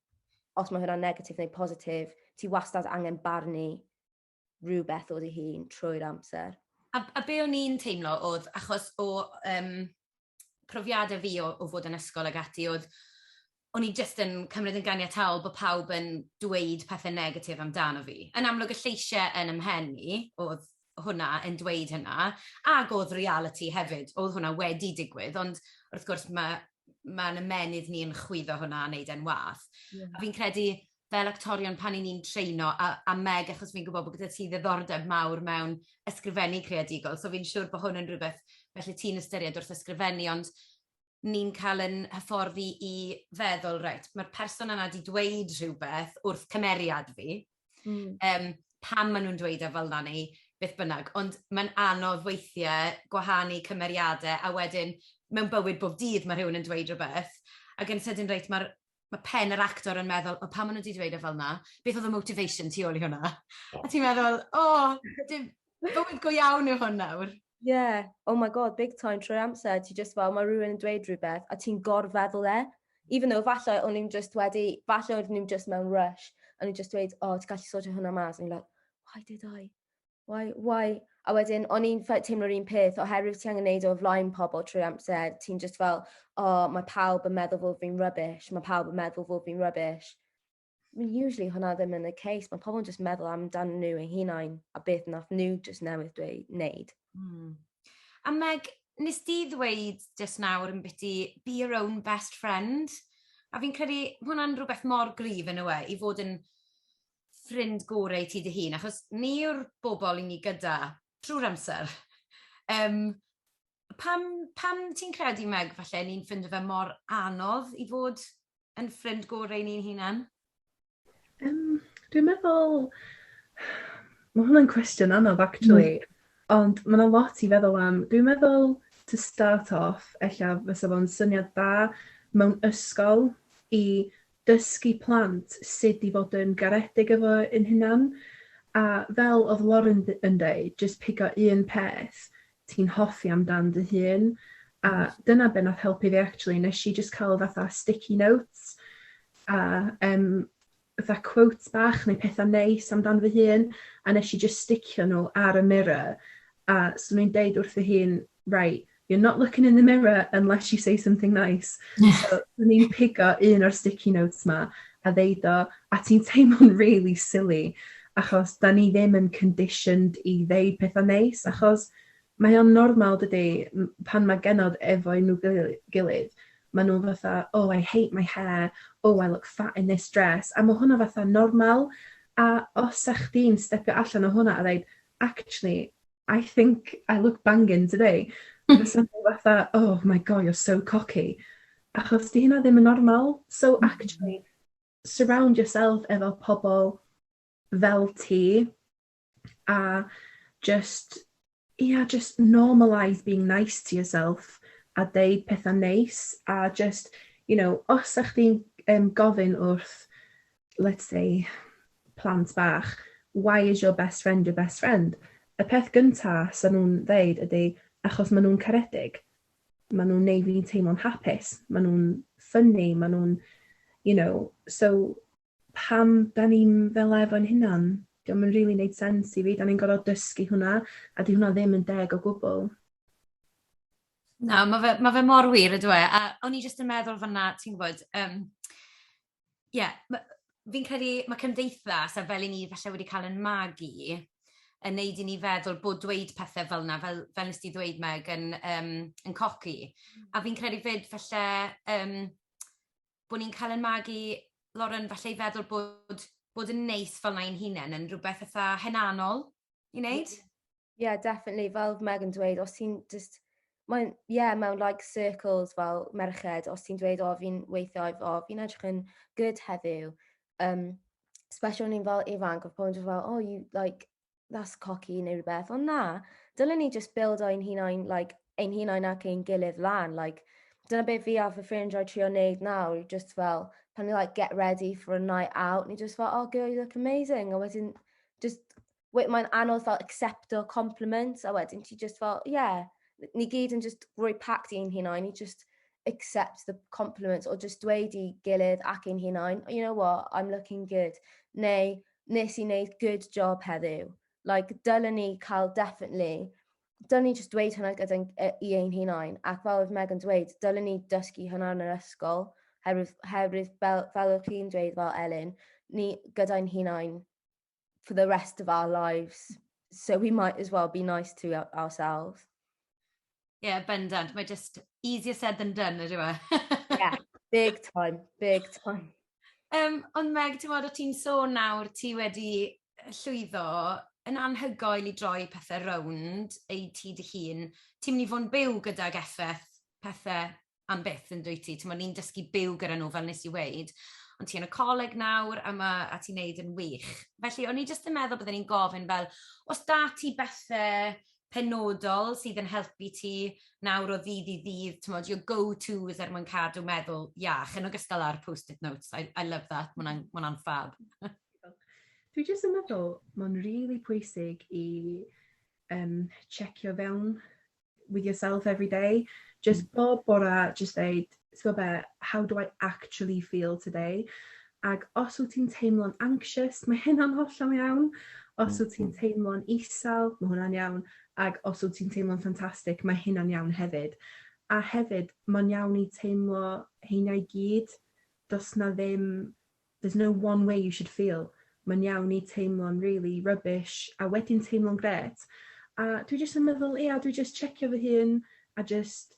[SPEAKER 3] Os mae hwnna'n negatif neu positif, ti wastad angen barnu rhywbeth o dy hun trwy'r amser. A, a be o'n
[SPEAKER 1] i'n teimlo oedd, achos o um, profiadau fi o, o fod yn ysgol ag ati oedd o'n i jyst yn cymryd yn ganiataol bod pawb yn dweud pethau negatif amdano fi. Yn amlwg y lleisiau yn ymhen i oedd hwnna yn dweud hynna, ac oedd reality hefyd, oedd hwnna wedi digwydd, ond wrth gwrs mae mae'n ymenydd ni'n chwyddo hwnna a wneud e'n wath. Yeah. A fi'n credu fel actorion pan i ni'n traino a a Meg achos fi'n gwybod bod gyda ti ddiddordeb mawr mewn ysgrifennu creadigol so fi'n siŵr bod hwn yn rhywbeth felly ti'n ystyried wrth ysgrifennu ond ni'n cael yn hyfforddi i feddwl reit mae'r person yna wedi dweud rhywbeth wrth cymeriad fi mm. um, pam maen nhw'n dweud e fel na neu beth bynnag ond mae'n anodd weithiau gwahanu cymeriadau a wedyn mewn bywyd bob dydd mae rhywun yn dweud rhywbeth ac yn sydyn reit mae'r mae pen yr actor yn meddwl, o pam maen nhw wedi dweud e fel yna? Beth oedd y motivation tu ôl i hwnna? A ti'n meddwl, o, dim bywyd go iawn yw hwn nawr. Yeah, oh my
[SPEAKER 3] god, big time trwy'r amser, ti just fel, mae rhywun yn dweud rhywbeth, a ti'n gorfeddwl e. Even though, falle o'n i'n just wedi, falle o'n i'n just mewn rush, a o'n i'n just dweud, o, oh, ti'n gallu sortio hwnna mas, a o'n i'n like, why did I? Why, why? A wedyn, o'n i'n teimlo'r un peth, oherwydd ti angen neud o flaen pobl trwy amser, ti'n just fel, o, oh, mae pawb yn meddwl fod fi'n rubbish, mae pawb yn meddwl fod fi'n rubbish. I mean, usually hwnna ddim yn y case, mae pobl yn just meddwl amdan nhw eu hunain a beth nath nhw just newydd dweud, neud. Mm.
[SPEAKER 1] A Meg, nes di ddweud just nawr yn biti, be your own best friend, a fi'n credu hwnna'n rhywbeth mor grif yn y we, i fod yn ffrind gore i ti dy hun, achos ni yw'r bobl i ni gyda trwy'r amser. um, pam, pam ti'n credu, Meg, falle ni'n ffind fe mor anodd i fod yn ffrind gorau ni'n hunan? Um,
[SPEAKER 2] dwi'n meddwl... Mae hwnna'n cwestiwn anodd, actually. Mm. Ond mae yna lot i feddwl am. Dwi'n meddwl, to start off, ella fysa fo'n syniad da mewn ysgol i dysgu plant sut i fod yn garedig efo yn hunan a fel odd Lauren yn deud jyst pigo un peth ti'n hoffi am dan dy hun a dyna be nath helpu fi actually neshi jyst ca'l fatha sticky notes a yym fatha quote bach neu petha neis am dan fy hun a neshi jyst sticio n'w ar y mirror a swn i'n deud wrth fy hun right, you're not looking in the mirror unless you say something nice. So, dyn ni'n pigo un o'r sticky notes ma a ddeud o, a ti'n teimlo'n really silly, achos da ni ddim yn conditioned i ddeud pethau neis, achos mae o'n normal dydy, pan mae genod efo nhw gilydd, maen nhw fatha, oh I hate my hair, oh I look fat in this dress, a mae hwnna fatha normal, a os ych di'n stepio allan o hwnna a ddeud, actually, I think I look banging today. Mae'n swnio fatha, oh my god, you're so cocky. Achos di hynna ddim yn normal. So mm-hmm. actually, surround yourself efo pobl fel ti a just, yeah, just normalise being nice to yourself a deud pethau neis a just, you know, os ych chdi'n um, gofyn wrth let's say, plant bach, why is your best friend your best friend? Y peth gynta sy'n nhw'n ddeud ydy, achos maen nhw'n caredig. Maen nhw'n neud fi'n teimlo'n hapus. Maen nhw'n ffynnu, maen nhw'n, you know, so pam da ni'n fel efo'n hunan? Diolch yn really neud sens i fi, da ni'n gorfod dysgu hwnna, a di hwnna ddim yn deg o gwbl.
[SPEAKER 1] Na, mae fe, ma fe mor wir ydw e. A o'n i jyst yn meddwl fanna, ti'n gwybod, um, Ie, ma'... fi'n credu ma' cymdeithas, a fel 'yn ni falle wedi cael ein magu, yn wneud i ni feddwl bod dweud pethe fel 'na, fel fel nest ti ddweud Meg, yn yym yn coci. A fi'n credu 'fyd falle yym bod ni'n cael ein magu, Lauren, falle i feddwl bod bod yn neis fel 'na i'n hunain yn rywbeth fatha hunanol i wneud. Yeah, definitely.
[SPEAKER 3] Fel Megan dweud, os ti'n just... Mae'n, yeah, mewn like circles fel merched, os ti'n dweud, o, fi'n weithio, o, fi'n edrych yn good heddiw. Um, special ni'n fel ifanc, o pobl yn fel, oh, you, like, that's cocky neu rhywbeth. Ond na, dylen ni just build o'n hunain, like, ein hunain ac ein gilydd lan. Like, dyna beth fi a fy ffrind roi trio wneud nawr, just fel, pan ni like get ready for a night out, ni just fel, oh girl, you look amazing, a wedyn just we- mae'n anodd fel accepto compliments a wedyn ti just fel ie yeah. ni gyd yn just rhoi pact i'n hunain i just accept the compliments or just dweud i gilydd ac i'n hunain oh, you know what I'm looking good neu nes i wneud good job heddiw like dylen ni cael definitely dylen ni just dweud hwnna gyda e, i ein hunain ac fel oedd Megan dweud dylen ni dysgu hwnna yn yr ysgol herwydd, herwydd fel, fel o'ch chi'n dweud fel Elin ni gyda'n hunain for the rest of our lives. So we might as well be nice to ourselves.
[SPEAKER 1] Ie, yeah, bendant. Mae just easier said than done, ydy fe? yeah,
[SPEAKER 3] big time, big time. Um, ond
[SPEAKER 1] Meg, ti'n fawr o ti'n sôn nawr, ti wedi llwyddo yn anhygoel i droi pethau rownd ei ti dy hun. Ti'n mynd i fod yn byw gydag effaith pethau am byth yn dwyt ti, t'mod ni'n dysgu byw gyda nhw fel nes i weud, ond ti yn y coleg nawr a ma' a ti'n neud yn wych. Felly o'n i jyst yn meddwl bydden i'n gofyn fel os da ti bethe penodol sydd yn helpu ti nawr o ddydd i ddydd, t'mod your go to's er mwyn cadw meddwl iach yn ogystal â'r post-it notes I I love that ma' wnna'n ma' wnna'n ffab.
[SPEAKER 2] Dwi jyst yn meddwl ma'n rili pwysig i yym checio fewn with yourself every day. Jyst hmm. bob bora, jyst dweud, ti'n be, how do I actually feel today? Ac os wyt ti'n teimlo'n anxious, mae hynna'n hollol iawn. Os hmm. wyt ti'n teimlo'n isel, mae hwnna'n iawn. Ac os wyt ti'n teimlo'n ffantastig, mae hynna'n iawn hefyd. A hefyd, mae'n iawn i teimlo heiniau gyd. Does na ddim There's no one way you should feel, mae'n iawn i teimlo'n rili rubbish a wedyn teimlo'n grêt. A dwi jyst yn meddwl ia dwi jyst checio fy hun a jyst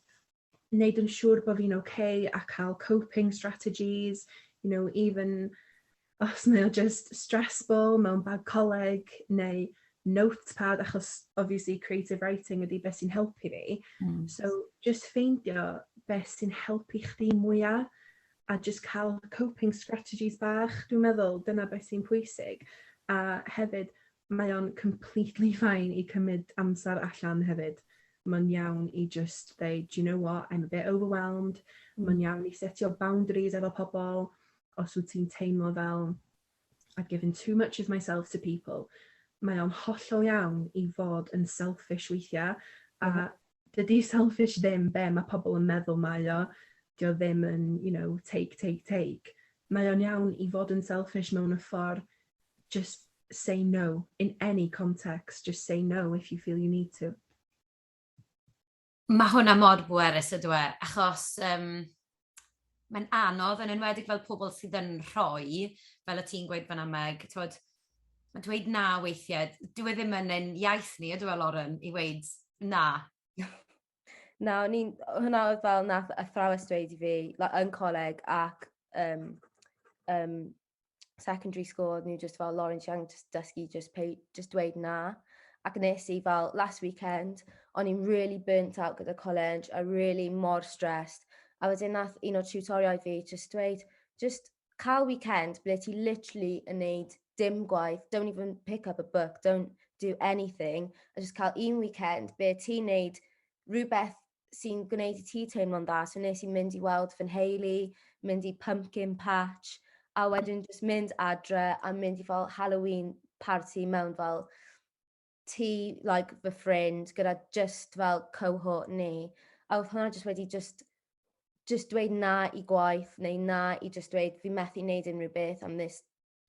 [SPEAKER 2] neud yn siŵr bo' fi'n ok a ca'l coping strategies you know even os mae o jyst stressful mewn bag coleg neu notepad achos obviously creative writing ydi be' sy'n helpu fi. Hmm. So jyst ffeindio be' sy'n helpu chdi mwya. a jyst cael coping strategies bach, dwi'n meddwl, dyna beth sy'n pwysig. A hefyd, mae o'n completely fine i cymryd amser allan hefyd. Mae'n iawn i jyst dweud, do you know what, I'm a bit overwhelmed. Mae'n iawn i setio boundaries efo pobl, os wyt ti'n teimlo fel I've given too much of myself to people. Mae o'n hollol iawn i fod yn selfish weithiau, a mm -hmm. dydy selfish ddim be mae pobl yn meddwl mae o. Dio ddim yn, you know, take, take, take. Mae o'n iawn i fod yn selfish mewn y ffordd just say no in any context, just say no if you feel you need to.
[SPEAKER 1] Mae hwnna mor bwerus yndyw e, achos yym mae'n anodd, yn enwedig fel pobl sydd yn rhoi, fel o't ti'n gweud fan'na Meg, t'mod, ma' dweud na weithiau, dyw e ddim yn ein iaith ni yndyw e Lauren i weud na?
[SPEAKER 3] Na o'n i'n hwnna o'dd fel nath athrawes dweud i fi la- yn coleg ac yym yym secondary school, oedden nhw just fel Lawrence Young, just dysgu, just, pay, just dweud na. Ac nes i fel last weekend, o'n i'n really burnt out gyda college, a really mor stressed. A wedyn nath un o'r tutoriau fi just dweud, just cael weekend ble ti literally yn neud dim gwaith, don't even pick up a book, don't do anything, a just cael un weekend ble ti'n neud rhywbeth sy'n gwneud i ti teimlo'n dda. So nes i mynd i weld fy nheulu, mynd i pumpkin patch, a wedyn jyst mynd adre a mynd i fel Halloween party mewn fel ti, like, fy ffrind, gyda just fel cohort ni. A oedd hwnna jyst wedi jyst just dweud na i gwaith neu na i just dweud fi methu wneud unrhyw beth am this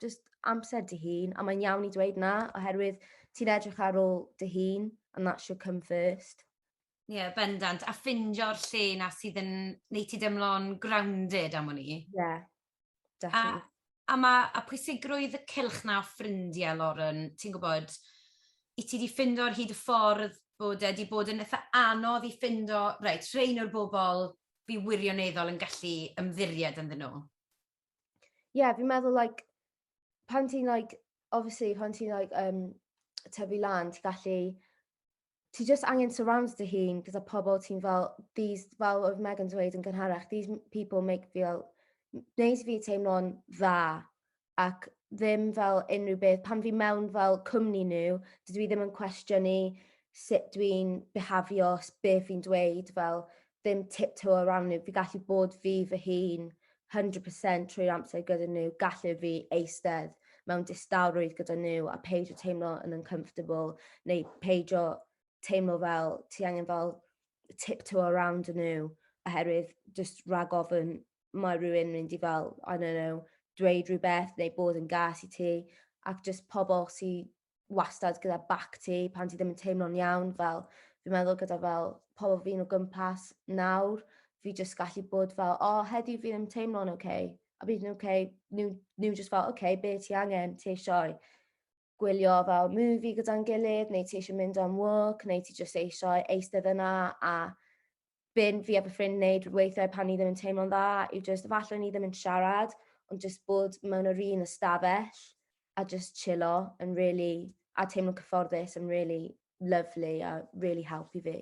[SPEAKER 3] jyst amser dy hun, a mae'n iawn i dweud na, oherwydd ti'n edrych ar ôl dy hun, and that should come first. Ie, yeah, bendant.
[SPEAKER 1] A ffindio'r lle na sydd yn neu ti dymlo'n grounded am hwn i. Ie, yeah, definitely. A,
[SPEAKER 3] a, ma,
[SPEAKER 1] a pwysigrwydd y cylch na o ffrindiau, Lauren, ti'n gwybod, i ti di ffindo'r hyd y ffordd bod e wedi bod yn eitha anodd i ffindo, reit, rhain o'r bobl fi wirioneddol yn gallu ymddiried ynddyn nhw.
[SPEAKER 3] yeah, fi'n meddwl like pan ti'n like obviously pan ti'n like um, tyfu lan, ti'n gallu ti just angen surround dy hun gyda pobl ti'n fel these fel oedd Megan dweud yn gynharach these people make feel wneud fi teimlo'n dda ac ddim fel unrhyw beth pan fi mewn fel cwmni nhw dydw i ddim yn cwestiynu sut dwi'n behafio beth fi'n dweud fel ddim tiptoe around nhw, fi gallu bod fi fy hun 100% trwy'r amser gyda nhw, gallu fi eistedd mewn distawrwydd gyda nhw a peidio teimlo yn uncomfortable neu peidio teimlo fel ti angen fel tiptoe around nhw oherwydd just rhag ofyn mae rhywun mynd i fel, I don't know, dweud rhywbeth neu bod yn gas i ti ac just pobl sy'n wastad gyda bac ti pan ti ddim yn teimlo'n iawn, fel fi'n meddwl gyda fel pobl fi'n o gwmpas nawr, fi jyst gallu bod fel, o, oh, heddi fi'n yn teimlo'n oce, okay. a bydd nhw'n oce, okay. nhw, nhw jyst fel, oce, okay, be ti angen, ti eisiau gwylio fel movie gyda'n gilydd, neu ti eisiau mynd am work, neu ti jyst eisiau eistedd yna a byn fi a fy ffrind neud weithiau pan ni ddim yn teimlo'n dda yw jyst efallai ni ddim yn siarad ond jyst bod mewn yr un ystafell a jyst chillo yn rili a teimlo cyfforddus yn rili lyfli a rili helpu fi.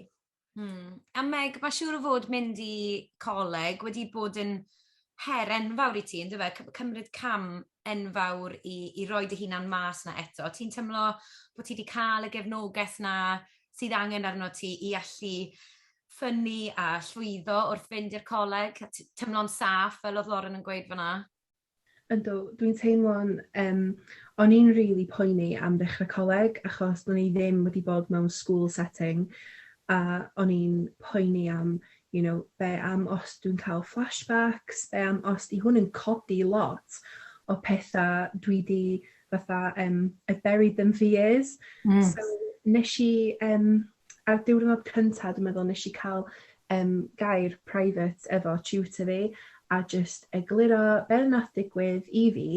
[SPEAKER 3] Hmm.
[SPEAKER 1] A Meg, mae siŵr o fod mynd i coleg wedi bod yn her enfawr i ti, ynddo fe? Cymryd cam enfawr i i roi dy hunan mas 'na eto. Ti'n teimlo bo' ti 'di ca'l y gefnogaeth 'na sydd angen arnot ti i allu ffynnu a llwyddo wrth fynd i'r coleg a t- teimlo'n saff fel o'dd Lauren yn gweud fana? Yndw
[SPEAKER 2] dwi'n teimlo'n yym o'n i'n rili poeni am ddechre coleg achos do'n i ddim wedi bod mewn school setting a o'n i'n poeni am you know, be am os dwi'n cael flashbacks, be am os 'di hwn yn codi lot o petha dwi 'di fatha yym I've buried them for years. Hmm. So nesh i yym ar diwrnod cynta dwi meddwl nesh i ca'l yym gair private efo tutor fi a jyst egluro be' nath digwydd i fi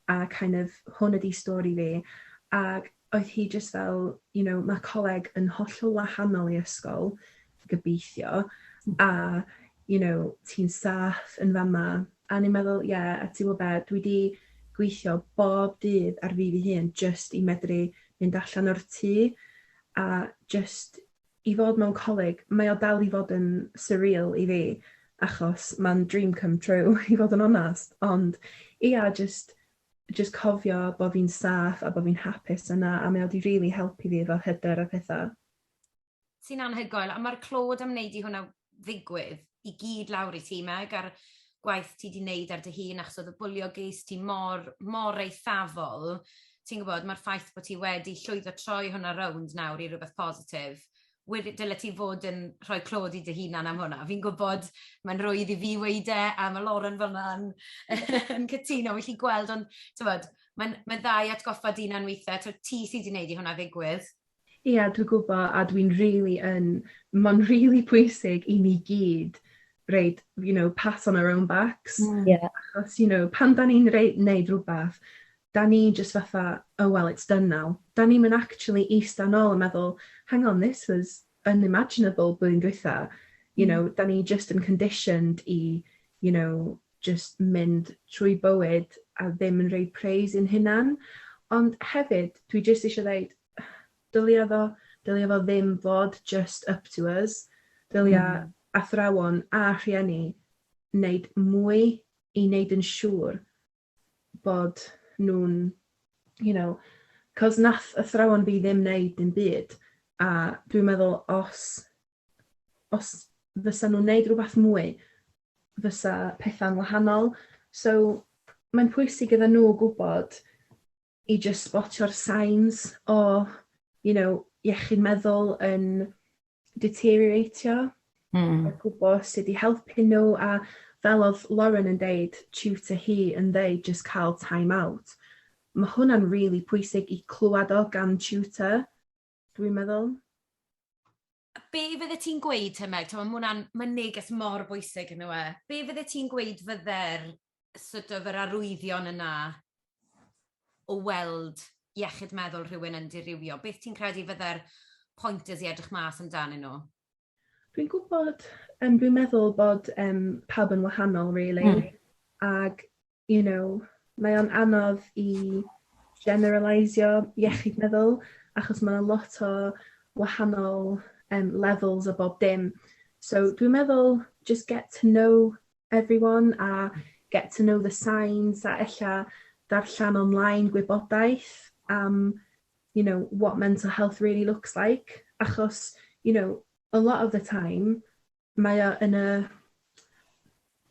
[SPEAKER 2] a kind of hwn ydi stori fi ag oedd hi jyst fel, you know, ma' coleg yn hollol wahanol i ysgol, gobeithio, a you know, ti'n saff yn fama, a o'n i'n meddwl, ie, a ti'n gwybod be, dwi 'di gweithio bob dydd ar fi fy hun jyst i medru mynd allan o'r tŷ, a jyst i fod mewn coleg, mae o dal i fod yn surreal i fi, achos ma'n dream come true i fod yn onest, ond ia, jyst jyst cofio bo fi'n saff a bo fi'n hapus yna a mae o di rili helpu fi efo hyder a petha. Ti'n
[SPEAKER 1] anhygoel, a ma'r clod am neud i hwnna ddigwydd i gyd lawr i ti Meg a'r gwaith ti di neud ar dy hun achos oedd y bwlio ges ti mor mor eithafol, ti'n gwbod ma'r ffaith bo ti wedi llwyddo troi hwnna rownd nawr i rwbeth positif wedi, dyle ti fod yn rhoi clod i dy hunan am hwnna. Fi'n gwybod, mae'n rwydd i fi weud e, a mae Lauren fel yna'n yn cytuno, felly gweld, ond tywed, mae'n mae dda i atgoffa dyn na'n weithiau, tywed, ti sydd wedi gwneud i hwnna ddigwydd. Ie, yeah, dwi'n
[SPEAKER 2] gwybod, a dwi'n really yn, mae'n really pwysig i ni gyd reid, you know, pat on our own backs. Mm. Yeah. Achos,
[SPEAKER 3] you know, pan
[SPEAKER 2] da ni'n reid, neud rhywbeth, 'da ni jyst fatha oh well it's done now, 'da ni'm yn actually ista nôl a meddwl hang on this was unimaginable blwyddyn dwytha, you know, 'da ni jyst yn conditioned i you know jyst mynd trwy bywyd a ddim yn rhoi praise i'n hunan, ond hefyd dwi jyst isio ddeud dylia fo dylia fo ddim fod jyst up to us, dylia athrawon a rhieni wneud mwy i wneud yn siŵr bod nhw'n, you know, cos nath athrawon fi ddim wneud dim byd, a dwi'n meddwl os, os fysa nhw'n wneud rhywbeth mwy, fysa pethau'n wahanol. So, mae'n pwysig iddyn nhw gwybod i jyst sbotio'r signs o you know iechyd meddwl yn deterioratio... Hmm. ...a gwbo sud i helpu n'w a fel o'dd Lauren yn deud tutor hi yn ddeud jyst ca'l time out ma' hwnna'n rili pwysig i clwad o gan tutor. dwi'n meddwl.
[SPEAKER 1] Be fydde ti'n gweud te Meg, t'mo' ma' hwnna'n ma'n neges mor bwysig on'd yw e? Be fydde ti'n gweud fydde'r sort of yr arwyddion yna o weld iechyd meddwl rhywun yn dirywio? Beth ti'n credu fydde'r pointers i edrych mas amdanyn nhw? Dwi'n
[SPEAKER 2] gwybod, um, dwi'n meddwl bod um, pawb yn wahanol, really. Mm. Ag you know, mae o'n anodd i generaleisio iechyd meddwl, achos mae 'na lot o wahanol um, levels o bob dim. So dwi'n meddwl just get to know everyone a get to know the signs a ella darllen online gwybodaeth am you know what mental health really looks like achos you know a lot of the time mae o yn y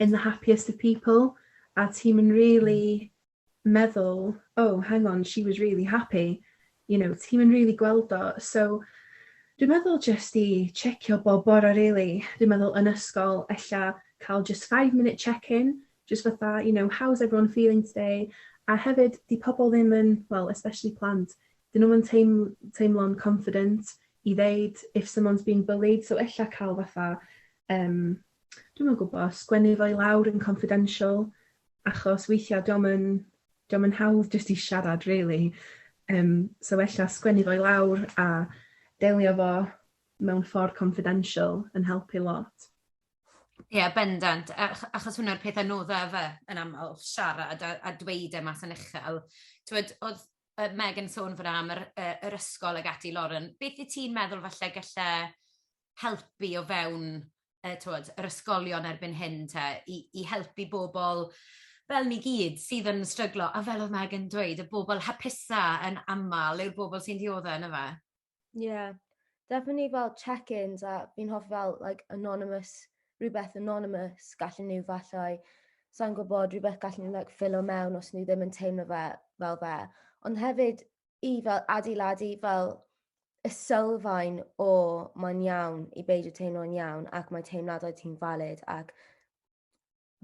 [SPEAKER 2] in the happiest of people a ti'm yn rili meddwl oh hang on she was really happy you know ti'm yn rili gweld o so dwi'n meddwl jyst i checio bob bore rili dwi'n meddwl yn ysgol ella cael jyst five minute check-in jyst fatha you know how's everyone feeling today a hefyd 'di pobol ddim yn wel especially plant 'dyn nhw'm yn teiml- teimlo'n confident i ddeud if someone's being bullied so ella cael fatha yym dwi'm yn gwbo sgwennu fo i lawr yn confidential achos weithia' 'dio'm yn 'dio'm yn hawdd jyst i siarad rili yym so ella sgwennu fo i lawr a delio fo mewn ffor confidential yn helpu lot. Ie
[SPEAKER 1] bendant ach- achos hwnna'r peth anodda yfe yn amal siarad a a dweud e mas yn uchel t'wod o'dd yy Meg yn sôn fana am yr yy yr ysgol ag ati Lauren, beth wyt ti'n meddwl falle gelle helpu o fewn yy t'wod yr ysgolion erbyn hyn te i i helpu bobl fel ni gyd sydd yn stryglo a fel o'dd Meg yn dweud y bobl hapusa yn amal yw'r bobl sy'n diodde' yndyfe? Ie.
[SPEAKER 3] Definitely fel check-ins a fi'n hoffi fel like anonymous rhywbeth anonymous gallen nhw fallai sa'n gwybod rhywbeth gallen nhw like ffilo mewn os nhw ddim yn teimlo fe fel fe. Ond hefyd i fel adeiladu fel y sylfaen o mae'n iawn i beidio teimlo'n iawn ac mae teimladau ti'n valid ac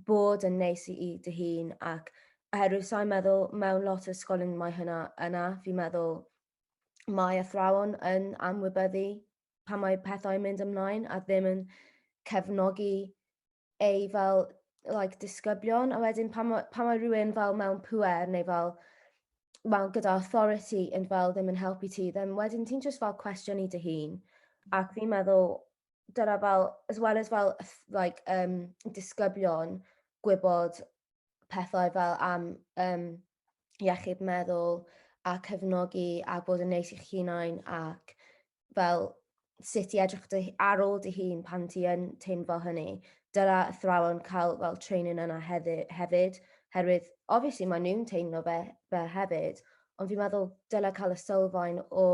[SPEAKER 3] bod yn neis i i dy hun ac oherwydd sa'n meddwl mewn lot o ysgolion mae hynna yna, fi'n meddwl mae athrawon yn amwybyddu pan mae pethau yn mynd ymlaen a ddim yn cefnogi ei fel like, disgyblion a wedyn pan mae, pan mae rhywun fel mewn pwer neu fel well, gyda authority yn fel ddim yn helpu ti, then wedyn ti'n just fel cwestiwn i dy hun. Ac fi'n meddwl, dyna fel, as well as fel, like, um, disgyblion, gwybod pethau fel am um, iechyd meddwl a cefnogi a bod yn neis i'ch hunain ac fel sut i edrych dy, ar ôl dy hun pan ti yn teimlo hynny. Dyna athrawon cael fel training yna hefyd, hefyd herwydd obviously mae nhw'n teimlo fe, fe hefyd, ond fi'n meddwl dyla cael y sylfaen o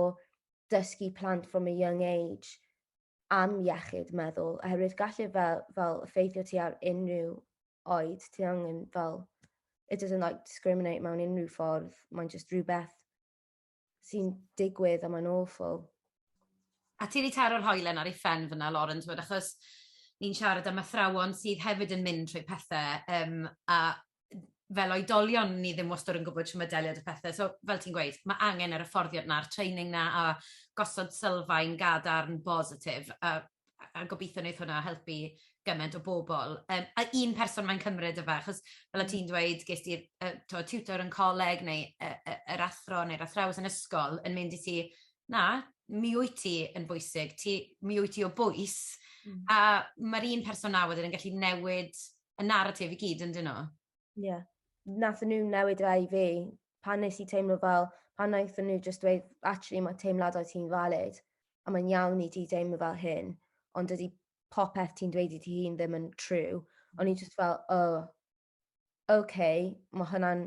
[SPEAKER 3] dysgu plant from a young age am iechyd meddwl, oherwydd gallu fel, fel ffeithio ti ar unrhyw oed, ti angen fel, it doesn't like discriminate mewn unrhyw ffordd, mae'n just rhywbeth sy'n digwydd a mae'n awful.
[SPEAKER 1] A ti wedi taro'r hoelen ar ei phen fyna, Lauren, ti'n achos ni'n siarad am athrawon sydd hefyd yn mynd trwy pethau, um, a fel oedolion, ni ddim wastad yn gwybod shwt mae delio 'da phethe, so fel ti'n gweud, ma' angen yr hyfforddiant 'na, a'r training 'na, a gosod sylfaen gadarn bositif, a a gobitho neith hwnna helpu gyment o bobl, yym a un person mae'n cymryd yfe, achos fel o' ti'n dweud, ges di'r yy t'mod tiwtor yn coleg neu yy yy yr athro neu'r athrawes yn ysgol yn mynd i ti, 'na, mi wyt ti yn bwysig, ti... Mi wyt ti o bwys', a ma'r un person 'na wedyn yn gallu newid y narratif i gyd yn dyn nhw. Ie. Yeah.
[SPEAKER 3] Nath nhw newid rai fi pan nes i teimlo fel, pan naethon nhw just dweud, actually mae teimladau ti'n valid, a mae'n iawn i ti deimlo fel hyn, ond dydy popeth ti'n dweud i ti hun ddim yn true. O'n i just fel, oh, okay, mae hwnna'n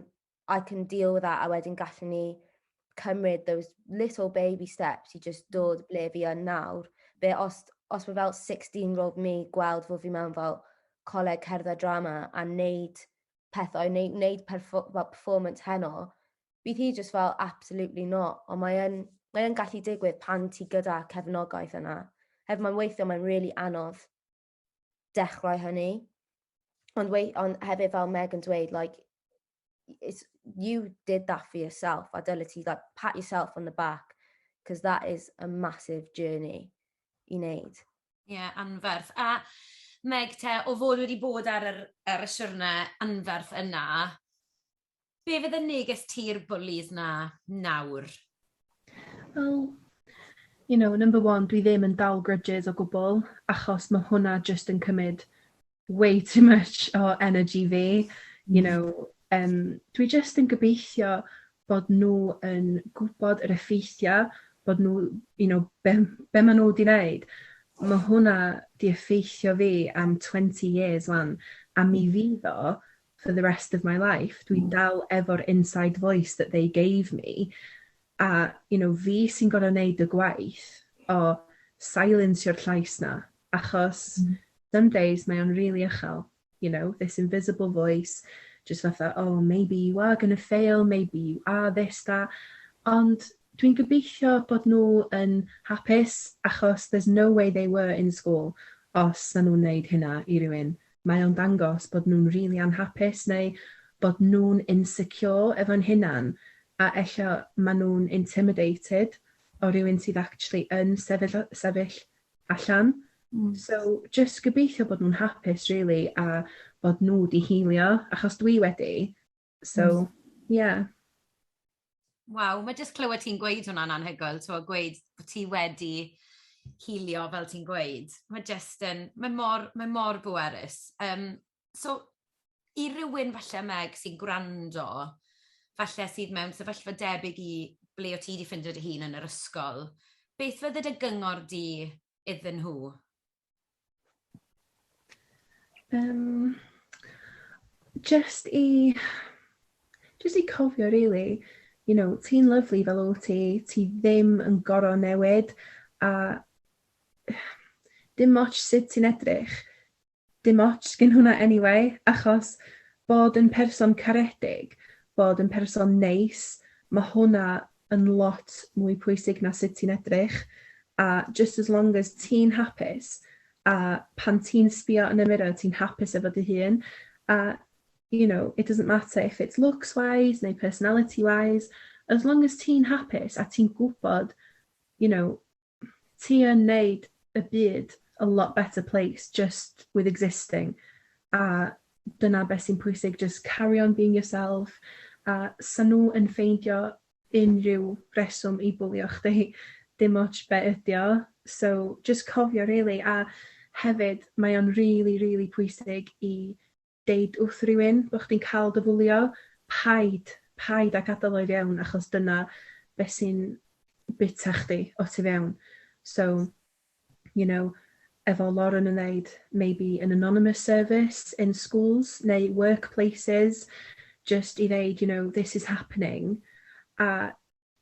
[SPEAKER 3] I can deal with that a wedyn gallwn ni cymryd those little baby steps i just mm. dod ble fi yn nawr. Be os, os mae fel 16 roedd mi gweld fod fi mewn fel coleg cerdded drama a wneud pethau, neu wneud perfo, well, performance heno, bydd hi just fel absolutely not. Ond mae'n mae yn gallu digwydd pan ti gyda cefnogaeth yna. Hef mae'n weithio, mae'n really anodd. dechrau hynny. Ond, wei, ond hefyd fel Meg yn dweud, like, it's, you did that for yourself, a dylai ti, like, pat yourself on the back, because that is a massive journey i wneud. Ie, yeah, anferth.
[SPEAKER 1] A Meg, te, o fod wedi bod ar, yr, ar y siwrne anferth yna, Be fydd y neges ti'r bwlis 'na nawr?
[SPEAKER 2] Wel, you know, number one, dwi ddim yn dal grudges o gwbl, achos mae hwnna jyst yn cymryd way too much o energy fi. You mm. know, um, dwi jyst yn gobeithio bod nhw yn gwybod yr effeithiau, bod nhw, you know, be, be maen nhw wedi wneud. Mae hwnna di effeithio fi am 20 years wan, a mi mm. fydd o for the rest of my life, dwi'n dal efo'r inside voice that they gave me, a you know fi sy'n gor'o' neud y gwaith o sailensio'r llais 'na, achos some days mae o'n rili ychal, you know, this invisible voice jyst fatha oh maybe you are gonna fail, maybe you are this, that, ond dwi'n gobeithio bod nhw yn hapus, achos there's no way they were in school os 'sa nhw'n neud hynna i rywun, mae o'n dangos bod nhw'n rili anhapus neu bod nhw'n insecure efo'n hunan a ella ma' nhw'n intimidated o rywun sydd actually yn sefyll a- sefyll allan. So jyst gobeithio bod nhw'n hapus rili a bod nhw 'di healio achos dwi wedi. So, yeah.
[SPEAKER 1] Waw, mae jyst clywed ti'n gweud hwnna'n anhygoel, ti'n gweud bod ti wedi hilio fel ti'n gweud. Mae jyst yn, mae mor, mae mor bwerus. Um, so, i rywun falle meg sy'n gwrando, falle sydd mewn sefyllfa debyg i ble o ti wedi ffindio dy hun yn yr ysgol, beth fydde dy gyngor di iddyn nhw? Um,
[SPEAKER 2] just i... Just i cofio, really, you know, ti'n lyflu fel o ti, ti ddim yn gorau newid, a dim moch sut ti'n edrych, dim moch gen hwnna anyway, achos bod yn person caredig, bod yn person neis, mae hwnna yn lot mwy pwysig na sut ti'n edrych a just as long as ti'n hapus a pan ti'n sbio yn y mirror ti'n hapus efo dy hun a you know it doesn't matter if it's looks wise neu personality wise as long as ti'n hapus a ti'n gwybod you know ti yn neud y byd a lot better place just with existing a dyna be sy'n pwysig just carry on being yourself a sa nhw yn ffeindio unrhyw reswm i bwlio chdi dim otsh be ydi o so just cofio rili a hefyd mae o'n rili rili pwysig i Deud wrth rywun bod chdi'n cael dy fwlio, paid, paid â gadael o i fewn achos dyna beth sy'n byta chdi o tu fewn. So, you know, efo Lauren yn ddeud, maybe an anonymous service in schools neu workplaces, jyst i ddeud, you know, this is happening, a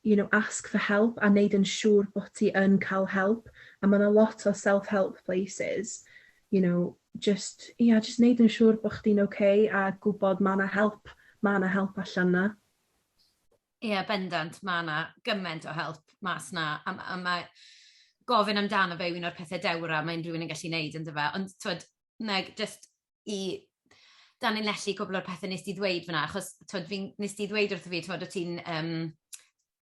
[SPEAKER 2] you know, ask for help a neud yn siŵr bo ti yn ca'l help a ma na lot o self help places you know jyst ia jyst neud yn siŵr bo chdi'n ok a gwbod ma na help ma na help allan na.
[SPEAKER 1] Ia bendant ma na gyment o help mas na a m- a mae gofyn amdano fe yw un o'r pethe dewra mae unrhyw un yn gallu neud yndyfe ond t'wod Meg jyst i danlinellu cwpl o'r pethe wnest ti ddweud fan'na, achos t'wod fi'n... Wnest ti ddweud wrtho fi t'mod o' ti'n yym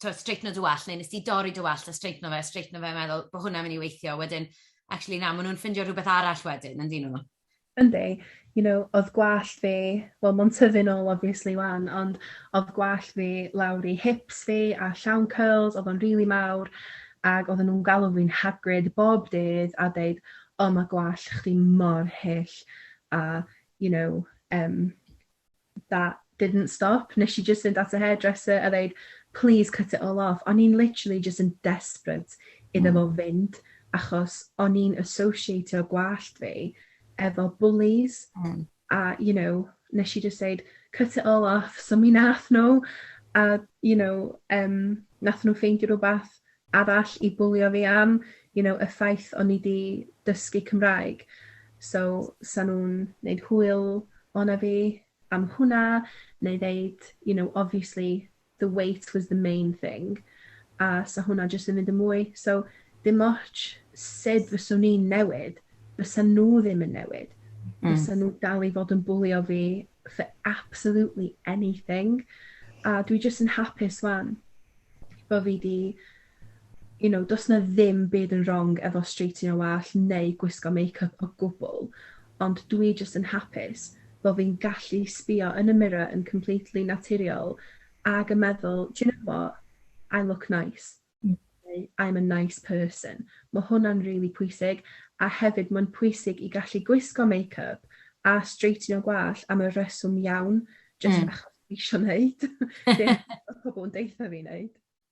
[SPEAKER 1] t'wod streigno dy wallt, neu wnest ti dorri dy wallt a streigno fe a streigno fe a meddwl bo' hwnna'n myn' i weithio, a wedyn actually na ma' nhw'n ffindio rhywbeth arall wedyn yndyn nhw? Yndi, you
[SPEAKER 2] know o'dd gwallt fi, wel ma'n tyfu nôl obviously 'wan, ond o'dd gwallt fi lawr i hips fi a llawn cyrls, o'dd o'n rili mawr, ag odden nhw'n galw fi'n Hagrid bob dydd a deud oh ma gwallt chdi mor hyll a you know um that didn't stop nes i jyst fynd at y hairdresser a ddeud please cut it all off o'n i'n literally jyst yn desperate iddo fo hmm. fynd achos o'n i'n associatio gwallt fi efo bullies mm. a you know nes i jyst deud cut it all off so mi nath n'w a you know yym nath n'w ffeindio rwbath arall i bwlio fi am you know y ffaith o'n i 'di dysgu Cymraeg so sa nw'n neud hwyl ona fi am hwnna neu ddeud you know obviously the weight was the main thing a 'sa hwnna jyst yn mynd yn mwy. So dim ots sud fyswn i'n newid, bysa nhw ddim yn newid. Mm. Bysa nhw dal i fod yn bwlio fi for absolutely anything. A dwi jyst yn hapus wan bo fi 'di you know, does 'na ddim byd yn wrong efo streightio wallt neu gwisgo makeup o gwbl, ond dwi jyst yn hapus bo' fi'n gallu sbïo yn y mirror yn completely naturiol ag yn meddwl, do you know what, I look nice, neu I'm a nice person. Ma' hwnna'n rili pwysig, a hefyd ma'n pwysig i gallu gwisgo makeup a streightio gwallt am y rheswm iawn, jyst achos dwi isio 'neud be' ma' pobol yn deutha fi 'neud.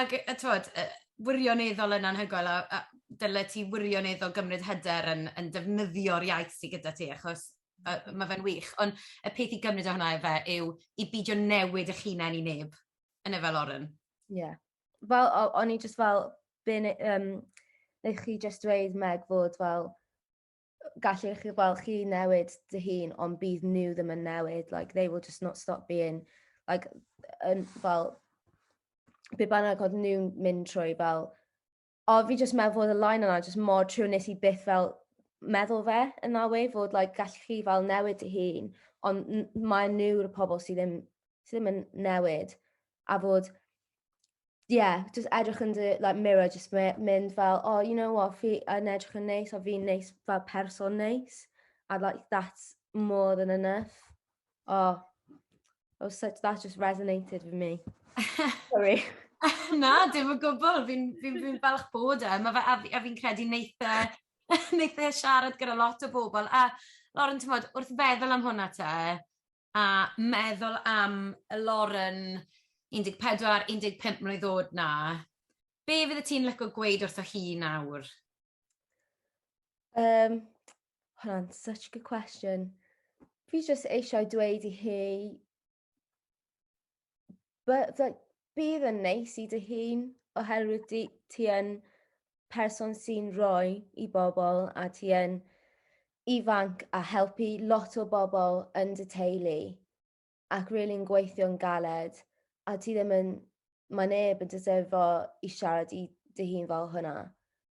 [SPEAKER 1] Ac yy yy t'mod yy wirioneddol yn anhygoel a a dyle ti wirioneddol gymryd hyder yn yn defnyddio'r iaith sy gyda ti achos yy ma' fe'n wych on' y peth i gymryd o hwnna efe yw i bidio newid 'ych hunen i neb yne fe Lauren? Ie.
[SPEAKER 3] Fel o- o'n i jyst fel be' ne- yym neu' chi jyst dweud Meg fod fel gallu chi fel chi newid dy hun ond bydd nhw ddim yn newid like they will just not stop being like yn fel be bynnag oedd nhw'n mynd trwy fel o fi just meddwl fod y line yna just mor trwy nes i byth fel meddwl fe yn that way fod like gallu chi fel newid dy hun ond mae nhw'r pobl sydd ddim sydd ddim yn newid a fod yeah, just edrych yn dy like, mirror, just mynd fel, oh, you know what, fi yn edrych yn neis, a fi'n neis fel person neis. A like, that's more than enough. Oh, oh such, that just resonated with me. Sorry. Na,
[SPEAKER 1] dim o gwbl. Fi'n fi, fi falch bod e. Mae fe, a, a fi'n credu neitha, e, neitha e siarad gyda lot o bobl. A Lauren, ti'n modd, wrth feddwl am hwnna te, a meddwl am y Lauren 14, 15 mlwydd o'd 'na, be fydde ti'n lico gweud wrtho hi nawr? Um,
[SPEAKER 3] hwnna'n such a good question. Fi jyst eisiau dweud i hi bydd yn neis i dy hun oherwydd di, ti yn person sy'n rhoi i bobl a ti yn ifanc a helpu lot o bobl yn dy teulu ac rili'n really gweithio'n galed a ti ddim yn, mae neb yn deserfo i siarad i dy hun fel hwnna.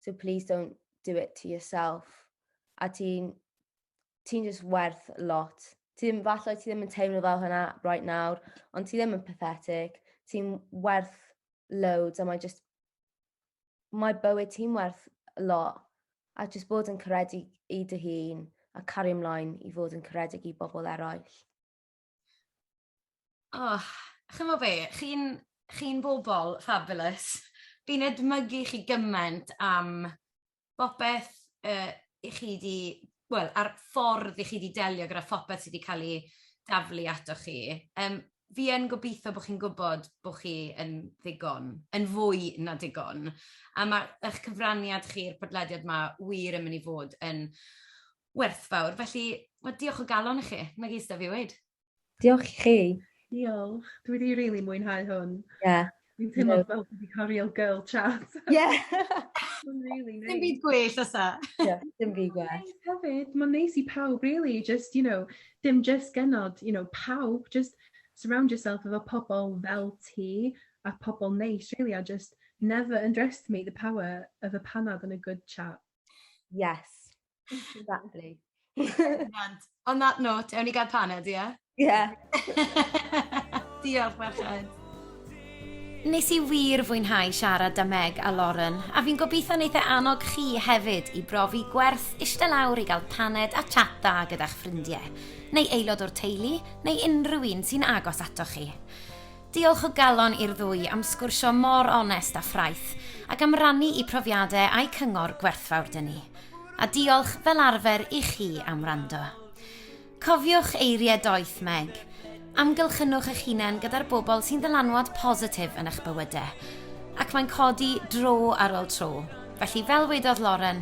[SPEAKER 3] So please don't do it to yourself. A ti'n ti'n just werth lot. Ti ddim, falle ti ddim yn teimlo fel hynna right nawr, ond ti ddim yn pathetic, ti'n werth loads a mae just, mae bywyd ti'n werth lot. A just bod yn caredig i dy hun a cario ymlaen i fod yn caredig i bobl eraill.
[SPEAKER 1] Oh, chymod be, chi'n chi bobl fabulous. Fi'n edmygu chi gymaint am bopeth uh, i chi di, wel, a'r ffordd i chi di delio gyda phopeth sydd wedi cael ei daflu ato chi. Um, fi yn gobeithio bod chi'n gwybod bod chi yn ddigon, yn fwy na digon. A mae eich cyfraniad chi'r podlediad yma wir yn mynd i fod yn werthfawr. Felly, wel, diolch o galon i chi. Na gyd sydd 'da fi weud. Diolch i chi.
[SPEAKER 3] Diolch. Dwi
[SPEAKER 2] wedi rili mwynhau hwn. Ie. Yeah. Dwi'n teimlo
[SPEAKER 3] fel dwi wedi
[SPEAKER 2] cael real girl chat. Ie.
[SPEAKER 3] Mae'n rili
[SPEAKER 2] neis. Dim byd gwell os a. Ie,
[SPEAKER 1] dim byd
[SPEAKER 3] gwell. Hefyd, mae'n neis
[SPEAKER 2] i pawb really, just, you know, dim just genod, you know, pawb, just surround yourself efo pobl fel ti a pobl neis really, a just never underestimate the power of a panad and a good chat. Yes.
[SPEAKER 3] Exactly.
[SPEAKER 1] On that note, ewn ni gael paned, ie? Ie. Diolch, Merched. Nes i wir fwynhau siarad da Meg a Lauren, a fi'n gobeithio wneud e annog chi hefyd i brofi gwerth eistedd lawr i gael paned a chat da gyda'ch ffrindiau, neu aelod o'r teulu, neu unrhyw un sy'n agos ato chi. Diolch o galon i'r ddwy am sgwrsio mor onest a ffraeth, ac am rannu eu profiadau a'u cyngor gwerthfawr 'da ni. A diolch, fel arfer, i chi am wrando. Cofiwch eiriau doeth Meg, Amgylchynwch eich hunain gyda'r bobl sy'n ddylanwad positif yn eich bywydau, ac mae'n codi dro ar ol tro. Felly, fel wedodd Lauren,